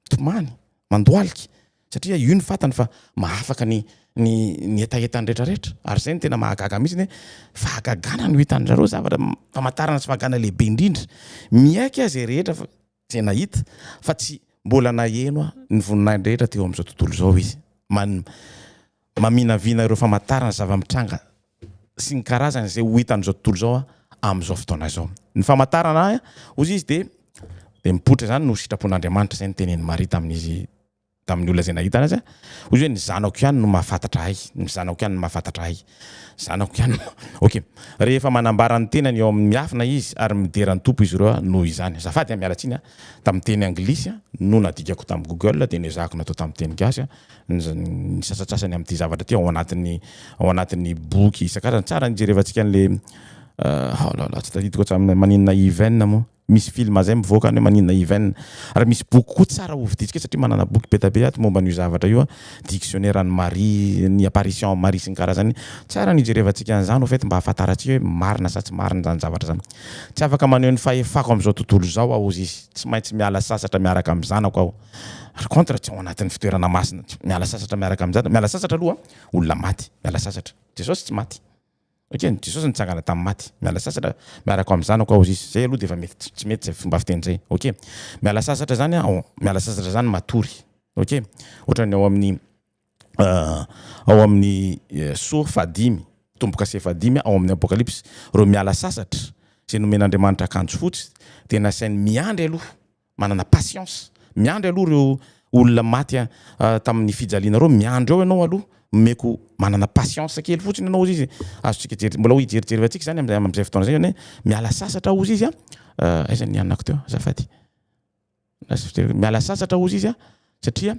tomany mandohalika Satria io no fantany fa mahafaka ny ny ny hetahetany rehetra rehetra. Ary zay no tena mahagaga mihitsy ny hoe fahagagana no hitan-dry zareo zavatra famantarana sy fahagagana lehibe indrindra. Miaiky aho zay rehetra fa zay nahita fa tsy mbola naheno aho ny voninahiny rehetra teo amin'izao tontolo izao izy. Man. Maminavina ireo famantarana sy zava-mitranga sy ny karazany izay ho hita amin'izao tontolo izao aho, amin'izao fotoana izao. Ny famantarana ahy, hoy izy, dia dia mipoitra izany no sitrapon'Andriamanitra. Izay no tenenin'i Maria tamin'izy tamin'ny olona izay nahita anazy. Hoy izy hoe, Ny zanako ihany no mahafantatra ahy. Ny zanako ihany no mahafantatra ahy. Ny zanako ihany no. Ok. Rehefa manambara ny tenany eo amin'ny miafina izy ary midera ny Tompo izy ireo, noho izany. Azafady an, miala tsiny an, tamin'ny teny anglisy no nadikako tamin'ny Google dia nezahako natao tamin'ny teny gasy, ny sasantsasany amin'ity zavatra ity ao anatin'ny ao anatin'ny boky isan-karazany. Tsara ny hijerevantsika an'ilay haolala tsy tadidiko hatramin'ny hoe maninona even moa? Misy film zay mivoaka any hoe maninona even. Ary misy boky koa tsara hovidintsika satria manana boky be dia be ato momba an'io zavatra io, dictionnaire an'i Marie, ny apparition an'i Marie sy ny karazany. Tsara ny hijerevantsika an'izany au fait mba hahafantarantsika hoe marina sa tsy marina izany zavatra izany. Tsy afaka maneho ny fahefako amin'izao tontolo izao aho hozy izy, tsy maintsy miala sasatra miaraka amin'ny zanako aho. Par contre tsy ao anatin'ny fitoerana masina tsy miala sasatra miaraka amin'ny jadona miala sasatra aloha olona maty miala sasatra Jesosy tsy maty ok Jesosy nitsangana tamin'ny maty miala sasatra miaraka amin'ny zanako aho zis zay aloha dia efa mety tsy mety zay fomba fiteny zay ok miala sasatra zany aho miala sasatra zany matory ok ohatran'ny ao amin'ny ao amin'ny so fahadimy tombo-kase fahadimy ao amin'ny apokalypsy ireo miala sasatra izay nomen'Andriamanitra akanjo fotsy dia nasainy miandry aloha Manana patience. Miandry aloha ireo olona maty tamin'ny fijaliana ireo, miandry eo ianao aloha, omeko manana patience kely fotsiny ianao, hozy izy. Azontsika jeri-, mbola hijerijery antsika izany amin'izay, amin'izay fotoana izay anie. Miala sasatra aho, hozy izy a. Aiza ny anako teo azafady? Lasa fijeriko. Miala sasatra aho, hozy izy a. satria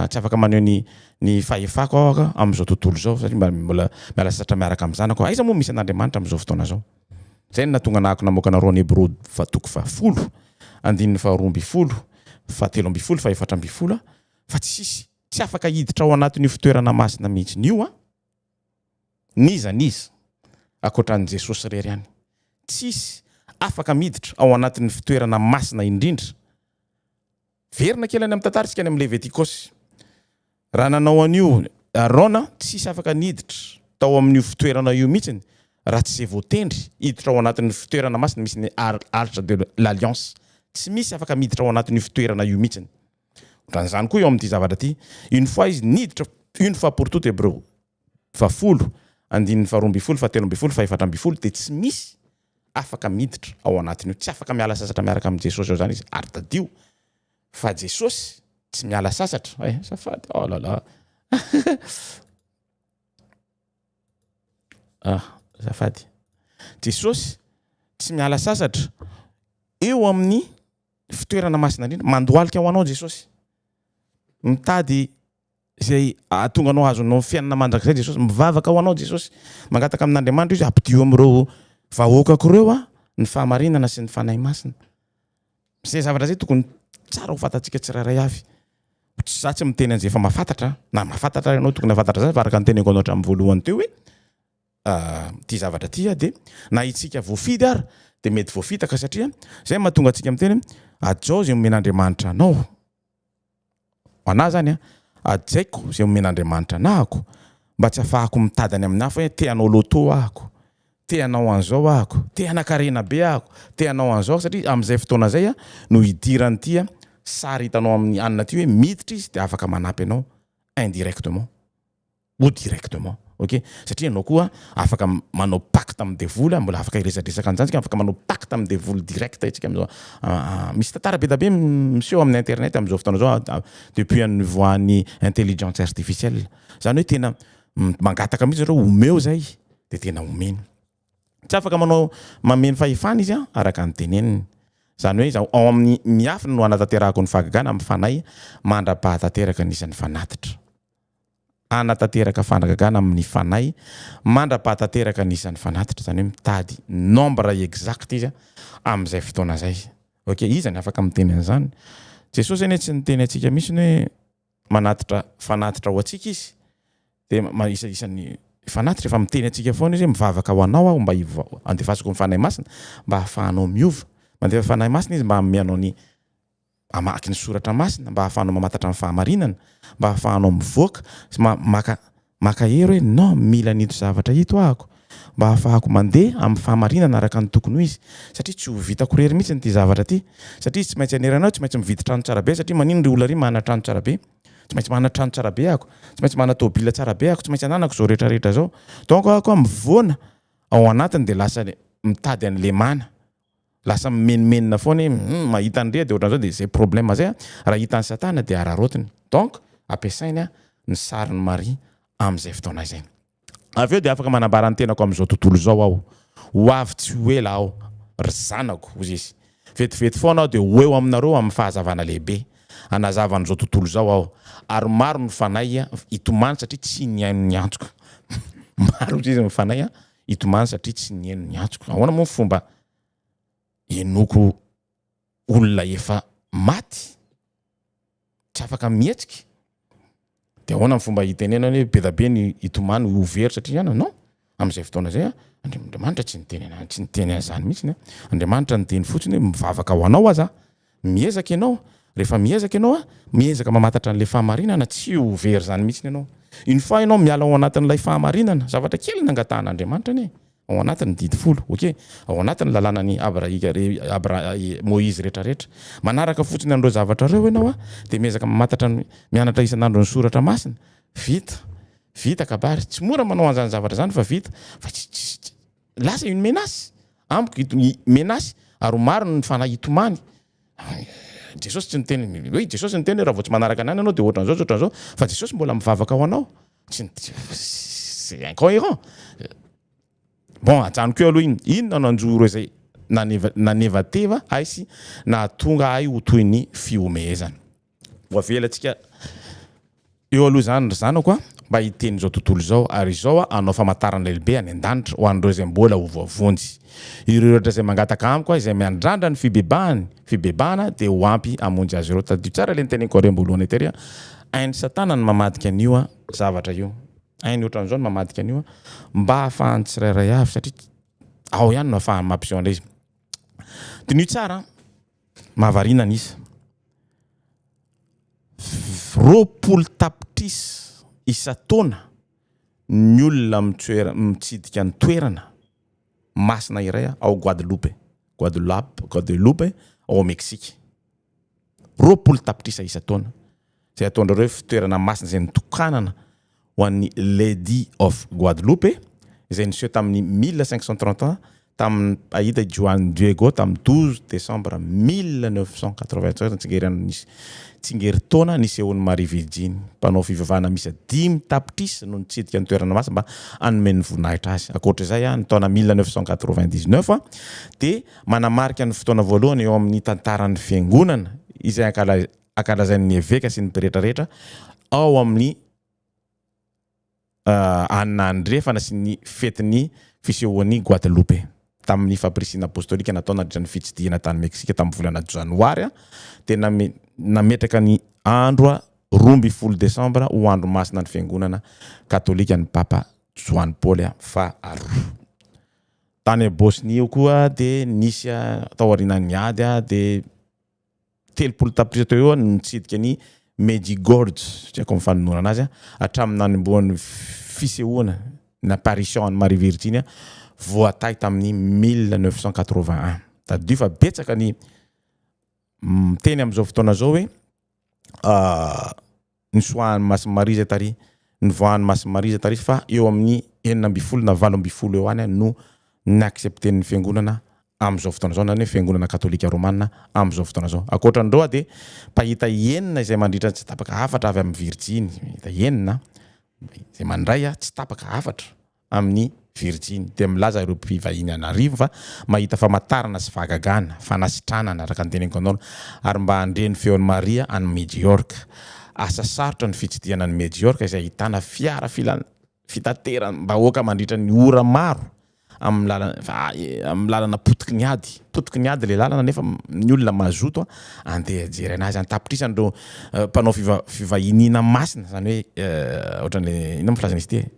tsy afaka maneho ny ny fahefako aho aka amin'izao tontolo izao satria mba mbola miala sasatra miaraka amin'ny zanako aiza moa misy an'Andriamanitra amin'izao fotoana izao zay no nahatonga nahako namoaka anareo any Hebreo fa toko fahafolo andininy faharoa ambin'ny folo fahatelo ambin'ny folo fahefatra ambin'ny folo aho fa tsisy tsy afaka hiditra ao anatin'io fitoerana masina mihitsiny io aho n'iza n'iza ankoatran'i Jesosy irery ihany tsisy afaka miditra ao anatin'ny fitoerana masina indrindra Miverina kely any amin'ny tantara isika any amin'ny Levitikosy. Raha nanao an'io Arona, tsy hisy afaka niditra tao amin'io fitoerana io mihitsy raha tsy izay voatendry hiditra ao anatin'ny fitoerana masina misy ny Arche de l'Alliance. Tsy misy afaka miditra ao anatin'io fitoerana io mihitsy. Ohatran'izany koa eo amin'ity zavatra ity. Une fois izy niditra, une fois pour toute, Hebreu. Vafolo, andininy faharoa ambin'ny folo, fahatelo ambin'ny folo, fahefatra ambin'ny folo, dia tsy misy afaka miditra ao anatin'io. Tsy afaka miala sasatra miaraka amin'i Jesosy ao izany izy. Ary tadidio fa Jesosy tsy miala sasatra. Eh, azafady, oh là là. Ah, azafady. Jesosy tsy miala sasatra eo amin'ny fitoerana masina indrindra. Mandohalika ho anao Jesosy. Mitady Izay hahatonga anao hahazo anao fiainana mandrakizay Jesosy. Mivavaka ho anao Jesosy. Mangataka amin'Andriamanitra izy hoe ampidio amin'ireo vahoakako ireo aho ny fahamarinana sy ny Fanahy Masina. Izay zavatra izay tokony tsara ho fantatsika tsirairay avy. Za tsy miteny an'izay efa mahafantatra na mahafantatra ary ianao tokony hahafantatra izany fa araka ny teneniko anao hatramin'ny voalohany teo hoe ity zavatra ity aho dia na isika voafidy ary dia mety voafitaka satria izay no mahatonga antsika miteny hoe hajao izay omen'Andriamanitra anao. Ho anà izany an, hajaiko izay omen'Andriamanitra anahako mba tsy hafahako mitady any amin'ny hafa hoe te hanao loto ahako, te hanao an'izao ahako, te hanan-karena be ahako, te hanao an'izao satria amin'izay fotoana izay no hidiran'ity sary hitanao amin'i Anna ity hoe miditra izy dia afaka manampy anao indirectement. ou directement ok satria ianao koa afaka manao pacte amin'ny devoly ary mbola afaka hiresadresaka an'izany isika afaka manao pacte amin'ny devoly direct isika amin'izao misy tantara be dia be miseho amin'ny internet amin'izao fotoana izao depuis an'ny nivoahan'ny intelligence artificielle izany hoe tena mangataka mihitsy zareo omeo izay dia tena omeny tsy afaka manao mamehy ny fahefany izy araka ny teneniny izany hoe ao amin'ny miafina no hanatanterahako ny fahagagana amin'ny fanahy mandra-pahatanteraka ny isan'ny fanatitra hanatanteraka fanagagana amin'ny fanahy mandrapaha tanteraka ny isan'ny fanatitra, izany hoe mitady nombre exact izy amin'izay fotoana izay. Ok, iza ny afaka miteny an'izany? Jesosy anie tsy niteny antsika mihitsiny hoe manatitra fanatitra ho antsika izy, de ma- isa- isan'ny fanatitra fa miteny antsika foana izy hoe mivavaka ho anao aho mba hiva- handefasako ny fanahy masina mba hahafahanao miova, mandefa fanahy masina izy mba hanome anao ny mamaky ny soratra masina mba ahafahanao mamantatra ny fahamarinana, mba ahafahanao mivoaka sy maka maka hery hoe non mila an'ito zavatra ito ahako mba ahafahako mandeha amin'ny fahamarinana araka ny tokony ho izy satria tsy ho vitako irery mihitsy ity zavatra ity satria izy tsy maintsy hanerana aho tsy maintsy mividy trano tsara be satria manino ry olona ry manana trano tsara be tsy maintsy manana trano tsara be ahako tsy maintsy manana tôbila tsara be ahako tsy maintsy ananako izao rehetra rehetra izao donc ahako mivoana ao anatiny dia lasa mitady an'i lemana Lasa mimenomenona foana hoe hum mahita an'i Ria dia ohatran'izao dia izay problème izay an! Raha hitan'i Satana dia araraotiny. Donc ampiasainy ny sarin'i Maria amin'izay fotoana izay. Avy eo dia afaka manambara ny tenako amin'izao tontolo izao aho. Ho avy tsy ho ela aho, ry zanako, hoy izy. Vetivety foana aho dia ho eo aminareo amin'ny fahazavana lehibe. Hanazava an'izao tontolo izao aho. Ary maro ny fanahy hitomany satria tsy nihaino ny antoko. Maro, hoy izy, ny fanahy Hitomany satria tsy niheno ny antsoko. Ahoana moa ny fomba henoako olona efa maty? Tsy afaka mihetsika. Dia ahoana ny fomba hitenenana hoe be dia be ny hitomany ho very satria hiainana? Non, amin'izay fotoana izay, Andriamanitra tsy niteny an'izany, tsy niteny an'izany mihitsy. Andriamanitra niteny fotsiny hoe mivavaka ho anao aza aho. Miezaka ianao, rehefa miezaka ianao a, miezaka mamantatra an'ilay fahamarinana, tsy ho very izany mihitsy ianao. Une fois ianao miala ao anatin'ilay fahamarinana, zavatra kely ny nangatahan'Andriamanitra anie e! ao anatin'ny didy folo, ok? ao anatin'ny lalànan'i Abrahika, Abra, Moizy rehetrarehetra, manaraka fotsiny an'ireo zavatra ireo ianao a, dia miezaka mamantatra ny, mianatra isan'andro ny Soratra Masina, vita, vita kabary, tsy mora manao an'izany zavatra izany fa vita, fa tsy, tsy, tsy. Lasa une menace amiko i i menace ary ho marina ny fanahy hitomany. Jesosy tsy niteny ny hoe Jesosy niteny hoe raha vao tsy manaraka ny anany ianao dia ohatran'izao sy ohatran'izao fa Jesosy mbola mivavaka ho anao. Tsy c'est incohérent. Bon ajanoko eo aloha iny. Inona no anjoro izay naneva nanevateva ahy sy nahatonga ahy ho toy ny fihomehezana. Ho avelantsika eo aloha izany ry zanako a, mba hiteny izao tontolo izao, ary izao aho hanao famantarana lehibe any an-danitra ho an'ireo izay mbola ho voavonjy. Ireo rehetra izay mangataka amiko aho izay miandrandra ny fibebahany, fibebahana, dia ho ampy hamonjy azy ireo. Tadidio tsara ilay noteneniko anareo am-boalohany etery a, hain'i Satana ny mamadika an'io a zavatra io, hainy ohatran'izao ny mamadika an'io a, mba hahafahan'ny tsirairay avy, satria ao ihany no ahafahany mampiseho an'ilay izy. Diniho tsara an! Mahavariana ny isa. Roapolo tapitrisa isan-taona ny olona mitsidika ny toerana masina iray ao Guadeloupe, Guadeloupe, ao Meksika. Roapolo tapitrisa isan-taona izay ataondrareo hoe fitoerana masina izay nitokanana ho an'ny Lady of Guadeloupe izay niseho tamin'ny mille cinq cent trente ans tamin'ny mpahita Juan Diego tamin'ny douze décembre mille neuf cent quatre-vingt-treize ny tsingerin tsingerintaona nisehoan'i Maria Virjiny. Mpanao fivavahana miisa dimy tapitrisa no nitsidika ny toerana masina mba hanome ny voninahitra azy. Ankoatra izay, ny taona mille neuf cent quatre-vingt-dix-neuf dia manamarika ny fotoana voalohany eo amin'ny tantaran'ny Fiangonana izay ankalazain'ny eveka sy ny pretra rehetra ao amin'ny anina andrefana sy ny fetin'ny fisehoan'i Guadalupe tamin'ny fampirisihina apostolika natao nandritra ny fitsidihana tany Meksika tamin'ny volana Janoary dia nametraka ny andro roa ambin'ny folo Desambra ho andro masina ny Fiangonana Katolika ny Papa Joany Paoly faharoa. Tany Bosnia io koa dia nisy taorianan'ny ady dia telopolo tapitrisa teo ho eo no nitsidika ny Medjugorje, tsy haiko ny fanononana azy, hatramin'ny nanombohan'ny fisehoana ny apparition an'i Maria Virginia voatahy tamin'ny mille neuf cent quatre-vingt-un. Tadidio fa betsaka ny miteny amin'izao fotoana izao hoe nosoahan'i Masimarija tary, novoahan'i Masimarija tary fa eo amin'ny enina ambin'ny folo na valo ambin'ny folo eo any no ni-accepter-n'ny fiangonana amin'izao fotoana izao, izany hoe fiangonana katolika romana amin'izao fotoana izao. Ankoatra an'ireo dia mpahita enina izay mandritra tsy tapaka hafatra avy amin'ny Virjiny, mpahita enina izay mandray tsy tapaka hafatra amin'ny Virjiny, dia milaza ireo mpivahiny an'arivony fa mahita famantarana sy fahagagana, fanasitranana, araka ny teneniko anao, ary mba handre ny feon'i Maria any Medjorka. Asa sarotra ny fitsidihana an'i Medjorka izay ahitana fiara filan fitateram-bahoaka mandritra ny ora maro amin'ny lalana amin'ny lalana potiky ny ady. Potiky ny ady ilay lalana nefa ny olona mazoto andeha hijery anazy an-tapitrisany ireo mpanao fiva fivahiniana masina, izany hoe ohatran'ilay inona moa filazana izy ity e?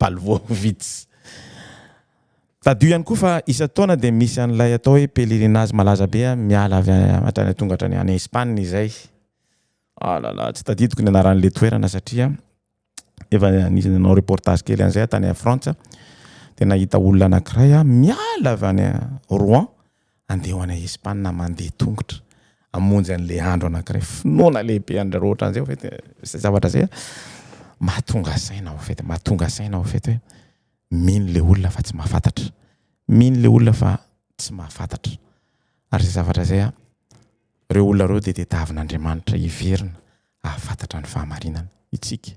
Balvovitz. Tadidio ihany koa fa isan-taona dia misy an'ilay atao hoe pèlerinage malaza be miala avy hatrany tonga hatrany any Espagne izay. Ah là là, tsy tadidiko ny anaran'ilay toerana satria efa nisy nanao reportage kely an'izay aho tany Frantsa dia nahita olona anankiray aho miala avy any Rouen Andeha ho any Espana mandeha tongotra hamonjy an'ilay andro anankiray finoana lehibe an-dry Roatra an'izay au fait izay zavatra izay mahatonga saina au fait mahatonga saina au fait hoe mino ilay olona fa tsy mahafantatra mino ilay olona fa tsy mahafantatra ary izay zavatra izay a ireo olona ireo dia tadiavin'Andriamanitra hiverina hahafantatra ny fahamarinana itsika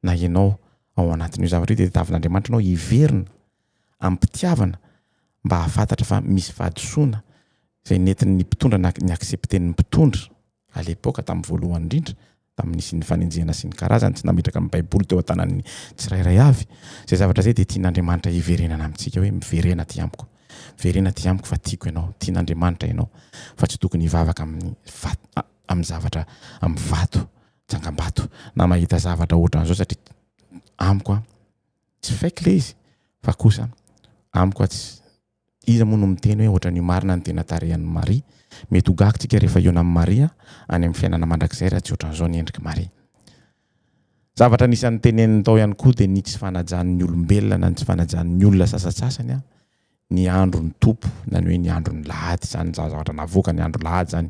na ianao ao anatin'io zavatra io dia tadiavin'Andriamanitra anao hiverina amim-pitiavana mba hahafantatra fa misy fahadisoana izay nentin'ny mpitondra na ny accepten'ny mpitondra à l'époque tamin'ny voalohany indrindra tamin'ny nisian'ny fanenjehana sy ny karazany tsy nametraka ny baiboly teo an-tanan'ny tsirairay avy izay zavatra izay dia tian'Andriamanitra hiverenana amintsika hoe miverena aty amiko miverena aty amiko fa tiako ianao tian'Andriamanitra ianao fa tsy tokony hivavaka amin'ny vato amin'ny zavatra amin'ny vato tsangambato na mahita zavatra ohatran'izao satria amiko a tsy fake le izy fa kosa amiko a tsy iza moa no miteny hoe ohatran'io marina ny tena tarehan'i Maria mety ho gaga tsika rehefa hiona amin'i Maria any amin'ny fiainana mandrakizay raha tsy ohatran'izao ny endrik'i Maria zavatra anisan'ny teneniny tao ihany koa dia ny tsy fanajan'ny olombelona na ny tsy fanajan'ny olona sasatsasany a ny andro ny Tompo na ny hoe ny andro ny lahady izany za zavatra navoaka ny andro lahady zany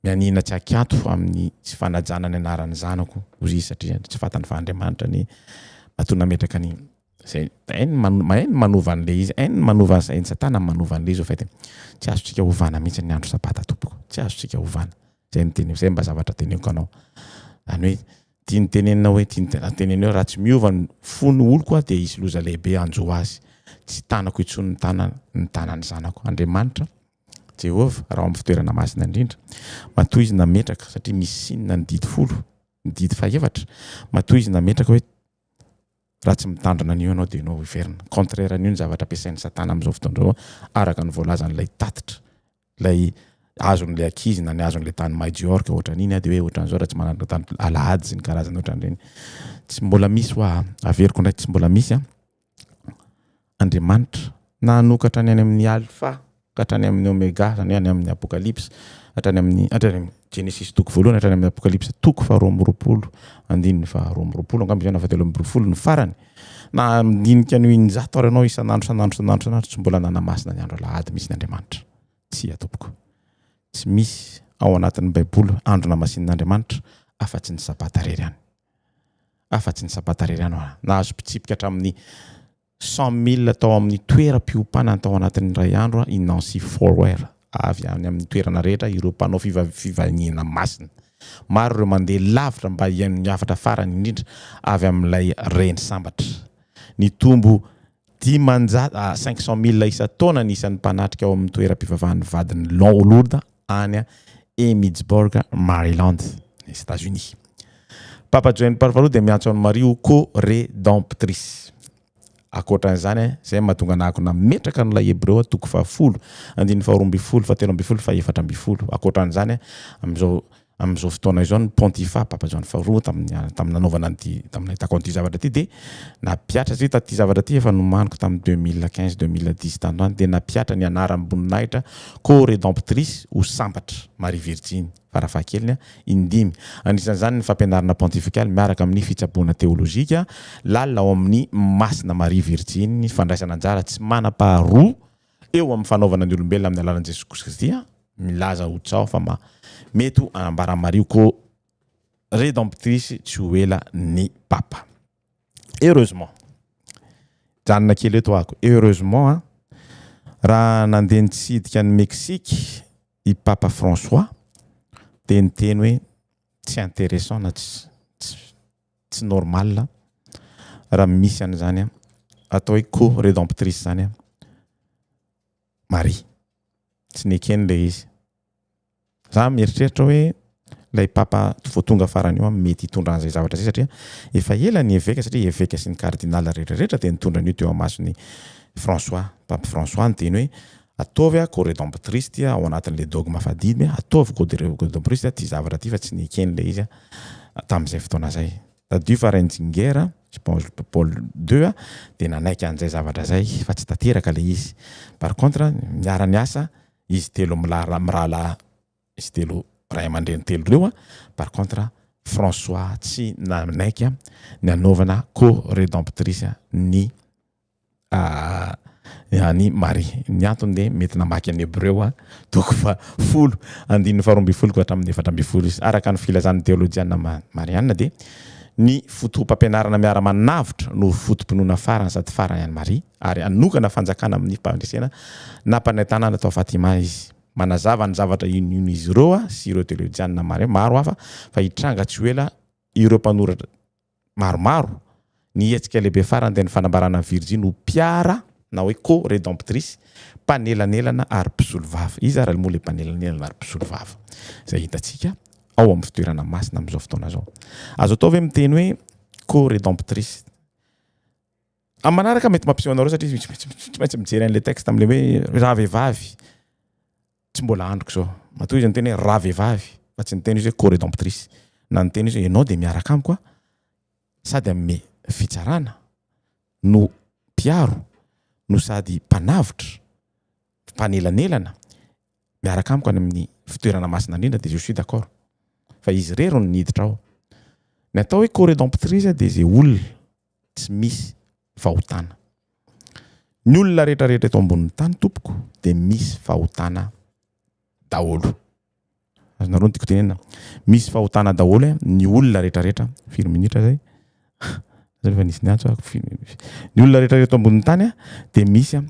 mianiana tsy akianto amin'ny tsy fanajana ny anaran'ny zanako hozy izy satria tsy fatany fa Andriamanitra ny matoa nametraka ny zay hainy mahay ny manova an'le izy hainy ny manova an'izay ny satana ny manova an'le izy ho fetiny tsy azontsika hovana mihitsy ny andro sabata tompoko tsy azontsika hovana zay ny teniko zay mba zavatra teniko anao zany hoe Tiany tenenina hoe tiany tenenina, raha tenenina hoe raha tsy miova ny fo ny oloko aho dia hisy loza lehibe hanjo azy. Tsy tanako intsony ny tanana, ny tanan'ny zanako. Andriamanitra, Jehovah, raha ao amin'ny fitoerana masina indrindra, matoa Izy nametraka, satria misy sinina ny didy folo, ny didy fahefatra, matoa Izy nametraka hoe, Raha tsy mitandrina an'io ianao dia ianao hoverina. Contraire an'io ny zavatra ampiasain'i Satana amin'izao fotoana izao, araka ny voalazan'ilay tatitra, ilay azon'ilay ankizy na ny azon'ilay tany Majorque ohatran'iny, dia hoe ohatran'izao raha tsy manandrana tany Alahady sy ny karazany ohatran'ireny. Tsy mbola misy hoa, averiko indray, tsy mbola misy an! Andriamanitra, na hanokatra ny any amin' ny Alfa ka hatrany amin' ny Ômega, izany hoe any amin' ny Apôkalipsa hatrany amin' ny, hatrany amin', Genesisy toko voalohany hatrany amin' ny Apôkalipsa toko faharoa amby roapolo, andininy faharoa amby roapolo, angamba izay na fahatelo amby roapolo no farany, na amin' ny dinika ny ho in-jato ary ianao isan' andro, isan' andro, isan' andro, isan' andro, tsy mbola nanamasina ny andro alahady mihitsy ny Andriamanitra. Tsia, tompoko. Tsy misy, ao anatin' ny Baiboly, andro namasin' Andriamanitra afa-tsy ny Sabata irery ihany. afa-tsy ny Sabata irery ihany aho nahazo mpitsipika hatramin'ny cent mille tao amin'ny toeram-piompanana tao anatin'ny iray andro i Nancy Fower. Avy any amin'ny toerana rehetra ireo mpanao fivahiniana masina. Maro ireo mandeha lavitra mba hihaino ny hafatra farany indrindra avy amin'ilay reny sambatra. Nitombo Dimanjato à cinq cents mille isan-taona ny isan'ny mpanatrika ao amin'ny toeram-pivavahan'ny vadin'i Laon Lourdes any Emmittsburg, Maryland, any Etats-Unis. Papa Joeny Paoly Faharoa dia miantso an'i Maria ho Co-Redemptrice. Ankoatran'izany, izay no mahatonga anà akona metraka ny Lahy Hebreo, toko fahafolo, andininy faharoa ambin'ny folo, fahatelo ambin'ny folo, fahefatra ambin'ny folo. Ankoatran'izany, amin'izao Amin'izao fotoana izao ny Pontifa, Papa Joany faharoa, tamin'ny tamin'ny nanaovana an'ity, tamin'ny nahitako an'ity zavatra ity dia nampihatra izy taty zavatra ity efa nomaniko tamin'ny deux mille quinze, deux mille dix tany ho any dia nampihatra ny anaram-boninahitra Co-Redemptrice ho sambatra Maria Virjiny farafahakeliny a, indimy. Anisan'izany ny fampianarana pontifikaly miaraka amin'ny fitsaboana teolojika lalina ao amin'ny Masina Maria Virjiny, fandraisana anjara tsy manam-paharoa eo amin'ny fanaovana ny olombelona amin'ny alalan'i Jesoa Kristy, milaza ho tsaho fa ma, mety ho hanambara Maria ho ko Redemptrice tsy ho ela ny Papa. Heureusement, janona kely eto ako, heureusement a, raha nandeha nitsidika an'i Mexique i Papa François dia niteny hoe tsy intéressant na tsy, tsy, tsy normal a! raha misy an'izany a! atao hoe co redemptrice zany a! Maria! tsy neken le izy! za mieritreritra hoe lay papa vao tonga farany io a mety hitondra an'izay zavatra zay satria efa ela ny eveka satria eveka sy ny cardinal rehetra rehetra dia nitondra an'io teo amason'i François, pape François ny teny hoe Ataovy a coredemptriste ao anatin'le dogme fadimy ataovy coderedemptriste ty zavatra ty fa tsy nekeny le izy tamin'izay fotoana zay. Tadidio fa Renzinger sy Paul deux dia nanaiky an'izay zavatra izay fa tsy tanteraka le izy. Par contre niara niasa izy telo milara mirahalahy izy telo ray aman-dreny telo reo par contre François tsy nanaiky ny hanaovana coredemptrice ny an'i Maria. Ny antony dia mety namaky an'i Hebreo a, toko faha folo, andininy faharoa ambin'ny folo ka hatramin'ny efatra ambin'ny folo izy. Araka ny filazan'ny teolojiana marianina dia ny foto-pampianarana miara-manavotra no foto-pinoana farany sady farany an'i Maria ary hanokana fanjakana amin'ny faharesena nampanentanana tao Fatima izy. Manazava ny zavatra inoino izy ireo sy ireo teolojiana maro hafa fa hitranga tsy ho ela ireo mpanoratra maromaro, ny hetsika lehibe farany dia ny fanambarana ny Virjiny ho mpiara na hoe co-redemptrice, mpanelanelana ary mpisolovava. Iza ary moa ilay mpanelanelana ary mpisolovava izay hitantsika ao amin'ny fitoerana masina amin'izao fotoana izao? Azo atao ve miteny hoe co-redemptrice? Amin'ny manaraka mety mampiseho anareo satria tsy maintsy tsy maintsy mijery an'ilay texte amin'ilay hoe ravehivavy tsy mbola androko izao. Matoa izy niteny hoe ravehivavy fa tsy niteny izy hoe co-redemptrice. Na niteny izy hoe ianao dia miaraka amiko aho sady amin'ny fitsarana no mpiaro no sady mpanavotra, mpanelanelana miaraka amiko any amin'ny fitoerana masina indrindra dia je suis d'accord. Fa izy irery no niditra ao. Ny atao hoe co-redemptrice dia izay olona tsy misy fahotana. Ny olona rehetra rehetra eto ambonin'ny tany tompoko dia misy fahotana daholo. Azonareo ny tiako tenenina. Misy fahotana daholo eh, ny olona rehetra rehetra. Firy minitra zay? Zay efa nisy niantso ah, firy minitra? Ny olona rehetra rehetra eto ambonin'ny tany ah, dia misy ah,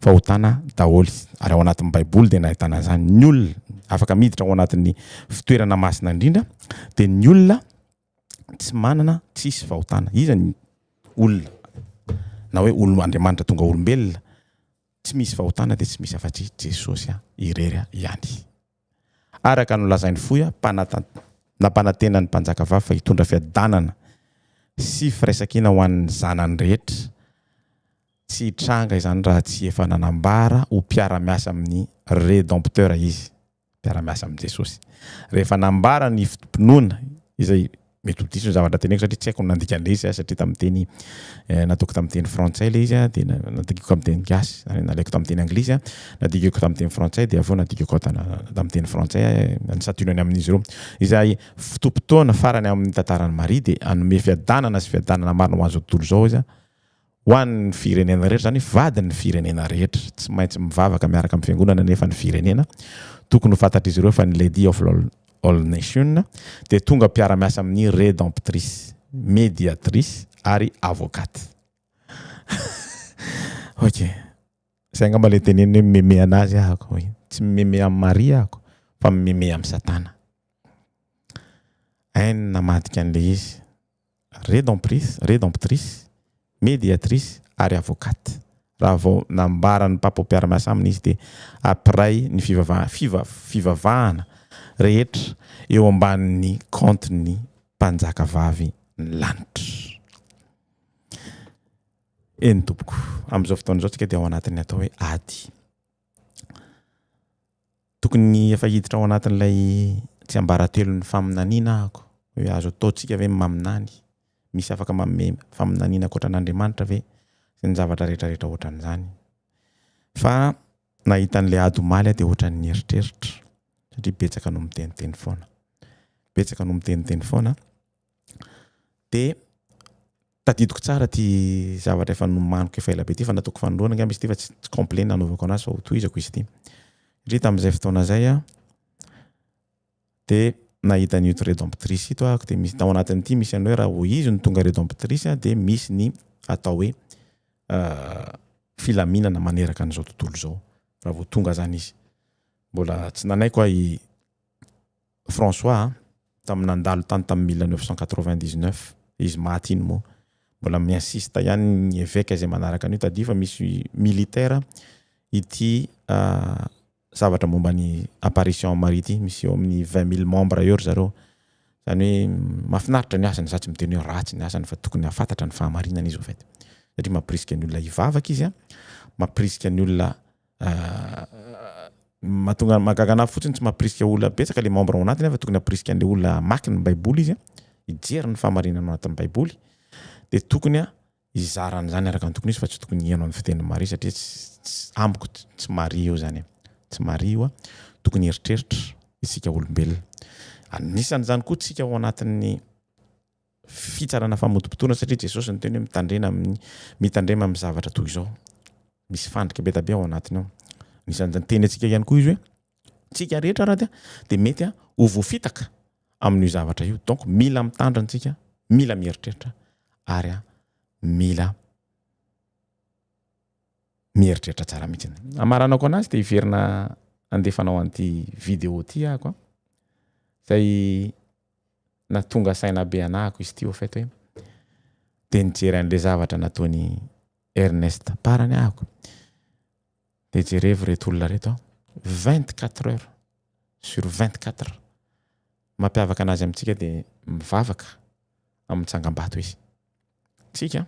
fahotana daholo. Ary ao anatin'ny Baiboly dia nahitana izany. Ny olona afaka miditra ao anatin'ny fitoerana masina indrindra dia ny olona tsy manana tsisy fahotana iza ny olona na hoe olo Andriamanitra tonga olombelona tsy misy fahotana dia tsy misy afa-tsy Jesosy irery ihany araka no lazain'ny fohy mpanatan nampanantena ny mpanjaka vavy fa hitondra fiadanana sy firaisankina ho an'ny zanany rehetra tsy hitranga izany raha tsy efa nanambara ho mpiara-miasa amin'ny Rédempteur izy mpiara-miasa amin'i Jesosy. Rehefa nambara ny foto-pinoana, izay mety ho diso ny zavatra teneniko satria tsy haiko ny nandikan'ilay izy satria tamin'ny teny nataoko tamin'ny teny frantsay ilay izy dia nadikiko amin'ny teny gasy ary nalaiko tamin'ny teny anglisy nadikiko tamin'ny teny frantsay dia avy eo nadikiko tamin'ny teny frantsay ny sationany amin'izy ireo izay fotoam-potoana farany amin'ny tantaran'i Maria dia hanome fiadanana sy fiadanana marina ho an'izao tontolo izao izy Ho an'ny firenena rehetra, izany hoe vadin'ny firenena rehetra. Tsy maintsy mivavaka miaraka amin'ny fiangonana anefa ny firenena. Tokony ho fantatr'izy ireo fa ny Lady of All Nations dia tonga mpiara-miasa amin'ny Rédemptrice, Médiatrice ary Avocate. Ok. Izay angamba ilay teneniny hoe mimemeha an'azy ahako. Tsy mimemeha amin'i Maria ahako, fa mimemeha amin'i Satana. Hainy namadika an'ilay izy. Redentrice, Redemptrice, Mediatrice ary Avocate. Raha vao nambaran'ny Papa ho mpiara-miasa aminy izy dia ampiray ny fivavahana, fivavahana, rehetra eo ambanin'ny kaontin'ny Mpanjaka vavy ny lanitra. Eny tompoko, amin'izao fotoana izao isika dia ao anatin'ny atao hoe ady. Tokony efa hiditra ao anatin'ilay tsiambaratelon'ny faminaniana ahako. Hoe azo ataontsika ve ny maminany? Misy afaka manome faminaniana ankoatra an'Andriamanitra ve? Sy ny zavatra rehetrarehetra ohatran'izany. Fa nahita an'ilay ady omaly aho dia ohatran'ny nieritreritra satria betsaka no miteniteny foana. Betsaka no miteniteny foana dia Tadidiko tsara ity zavatra efa nomaniko efa elabe ity fa nataoko fanoloana angamba izy ity fa tsy complet nanaovako anazy fa hotohizako izy ity. Satria tamin'izay fotoana izay aho dia nahita an'ito Rédemptrice ito aho dia misy tao anatin'ity misy an'io raha vao izy no tonga Rédemptrice dia misy ny atao hoe euh, filaminana maneraka an'izao tontolo izao raha vao tonga zany izy. Mbola tsy nanaiko aho i François a, tamin'ny nandalo tany tamin'ny mille neuf cent quatre-vingt-dix-neuf izy maty iny moa mbola mi insiste ihany ny eveka izay manaraka an'io tadidio fa misy militaire ity zavatra momba ny apparition en Marie ity misy eo amin'ny vingt mille membres eo ry zareo izany hoe mahafinaritra ny asany za tsy miteny hoe ratsy ny asany fa tokony hafantatra ny fahamarinana izy au fait satria mampirisika ny olona hivavaka izy a mampirisika ny olona mahatonga mahagaga anah fotsiny tsy mampirisika olona betsaka le membre ao anatiny fa tokony hampirisika an'le olona hamaky ny baiboly izy hijery ny fahamarinana ao anatin'ny baiboly de tokony a hizara an'izany araka ny tokony izy fa tsy tokony hihaino an'ny fitenin'i Maria satria tsy amiko tsy Maria io zany tsy Maria io a tokony hieritreritra isika olombelona anisan'izany koa tsika ao anatin'ny fitsarana famotopotoana satria Jesosy niteny hoe mitandrena amin'ny mitandrema amin'ny zavatra toy izao. Misy fandrika be dabe ao anatiny ao. Anisan'izay niteny antsika ihany koa izy hoe tsika rehetra raha dia dia mety ho voafitaka amin'io zavatra io. Donc mila mitandrina antsika, mila mieritreritra ary mila mieritreritra tsara mihitsy. Amaranako anazy dia hiverina andefanao an'ity vidéo ity ahako. Izay na tonga saina be anahako izy ity au fait hoe dia nijery an'ilay zavatra nataony Ernest parany ahako dia jerevo reto olona reto aho 24 heures sur 24 mampiavaka anazy amintsika dia mivavaka amin'ny tsangambato izy tsika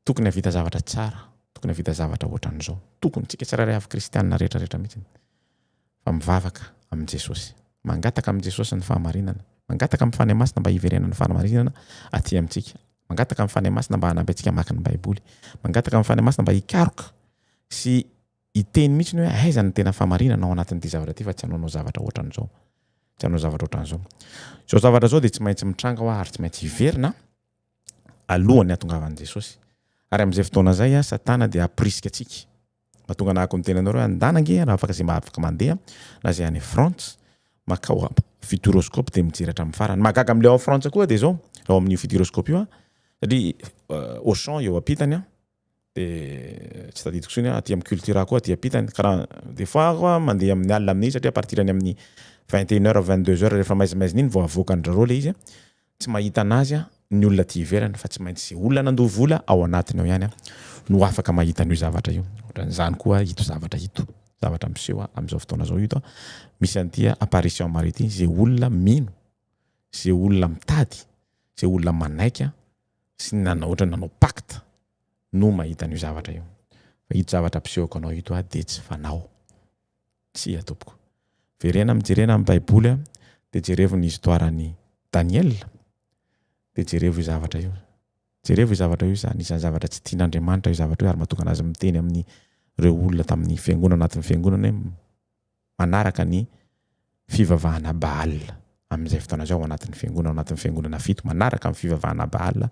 Tokony havita zavatra tsara, tokony havita zavatra ohatran'izao. Tokony, tsika tsirairay avy kristianina rehetra rehetra mihitsy. Fa mivavaka amin'i Jesosy. Mangataka amin'i Jesosy ny fahamarinana. Mangataka amin'ny Fanahy Masina mba hiverenan'ny fahamarinana aty amintsika. Mangataka amin'ny Fanahy Masina mba hanampy antsika hamaky ny Baiboly. Mangataka amin'ny Fanahy Masina mba hikaroka sy hiteny mihitsy ny hoe aiza ny tena fahamarinana ao anatin'ity zavatra ity fa tsy hanaonao zavatra ohatran'izao. Tsy hanao zavatra ohatran'izao. Izao zavatra izao dia tsy maintsy mitranga ho'a ary tsy maintsy hiverina. alohan'ny hahatongavan'i Jesosy. Ary amin'izay fotoana izay, Satana dia hampirisika antsika. Mahatonga anahako ny tenanareo hoe andana ange raha afaka izay afaka mandeha na izay any France makao Futuroscope dia mijery hatramin'ny farany. Mahagaga amin'ilay ao Frantsa koa dia izao, ao amin'io Futuroscope io, satria euh, Auchan eo ampitany, de tsy tadidiko tsony aty am cultura koa aty ampitany kara de fois koa mandeha amin'ny alina amin'iny satria à partir any amin'ny vingt et une heure vingt deux heure refa maizimaizina iny vao avoakan'drareo le izy tsy mahita anazy ny olona aty ivelany fa tsy maintsy ze olona nandoa vola ao anatiny ao ihany no afaka mahita an'io zavatra io otran'izany koa ito zavatra ito zavatra miseho am'zao fotoana zao ito misy an'ity apparition maro ity ze olona mino ze olona mitady ze olona manaiky sy ny nanao otrany nanao pacte no mahita an'io zavatra io fa ito zavatra ampisehoko anao ito aho dia tsy fanao tsia tompoko verena mijerena amin'ny baiboly a dia jerevo ny histoire an'i Daniel dia jerevo io zavatra io jerevo io zavatra io izany isan'ny zavatra tsy tian'Andriamanitra io zavatra io ary mahatonga anazy miteny amin'ny reo olona tamin'ny fiangonana anatin'ny fiangonana hoe manaraka ny fivavahana Baal amin'izay fotoana izay ao anatin'ny fiangonana, ao anatin'ny fiangonana fito manaraka ny fivavahana Baal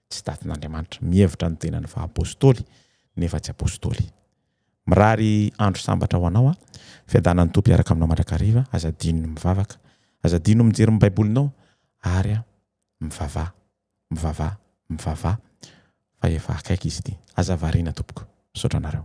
tsy datin'Andriamanitra, mihevitra ny tenany fa apostoly nefa tsy apostoly. Mirary andro sambatra ho anao aho, fiadanan'ny Tompo hiaraka aminao mandrakariva, aza adino ny mivavaka, aza adino ny mijery ny baibolinao ary mivavaha Mivavaha, mivavaha fa efa akaiky izy ity. Aza variana tompoko. Misaotra anareo.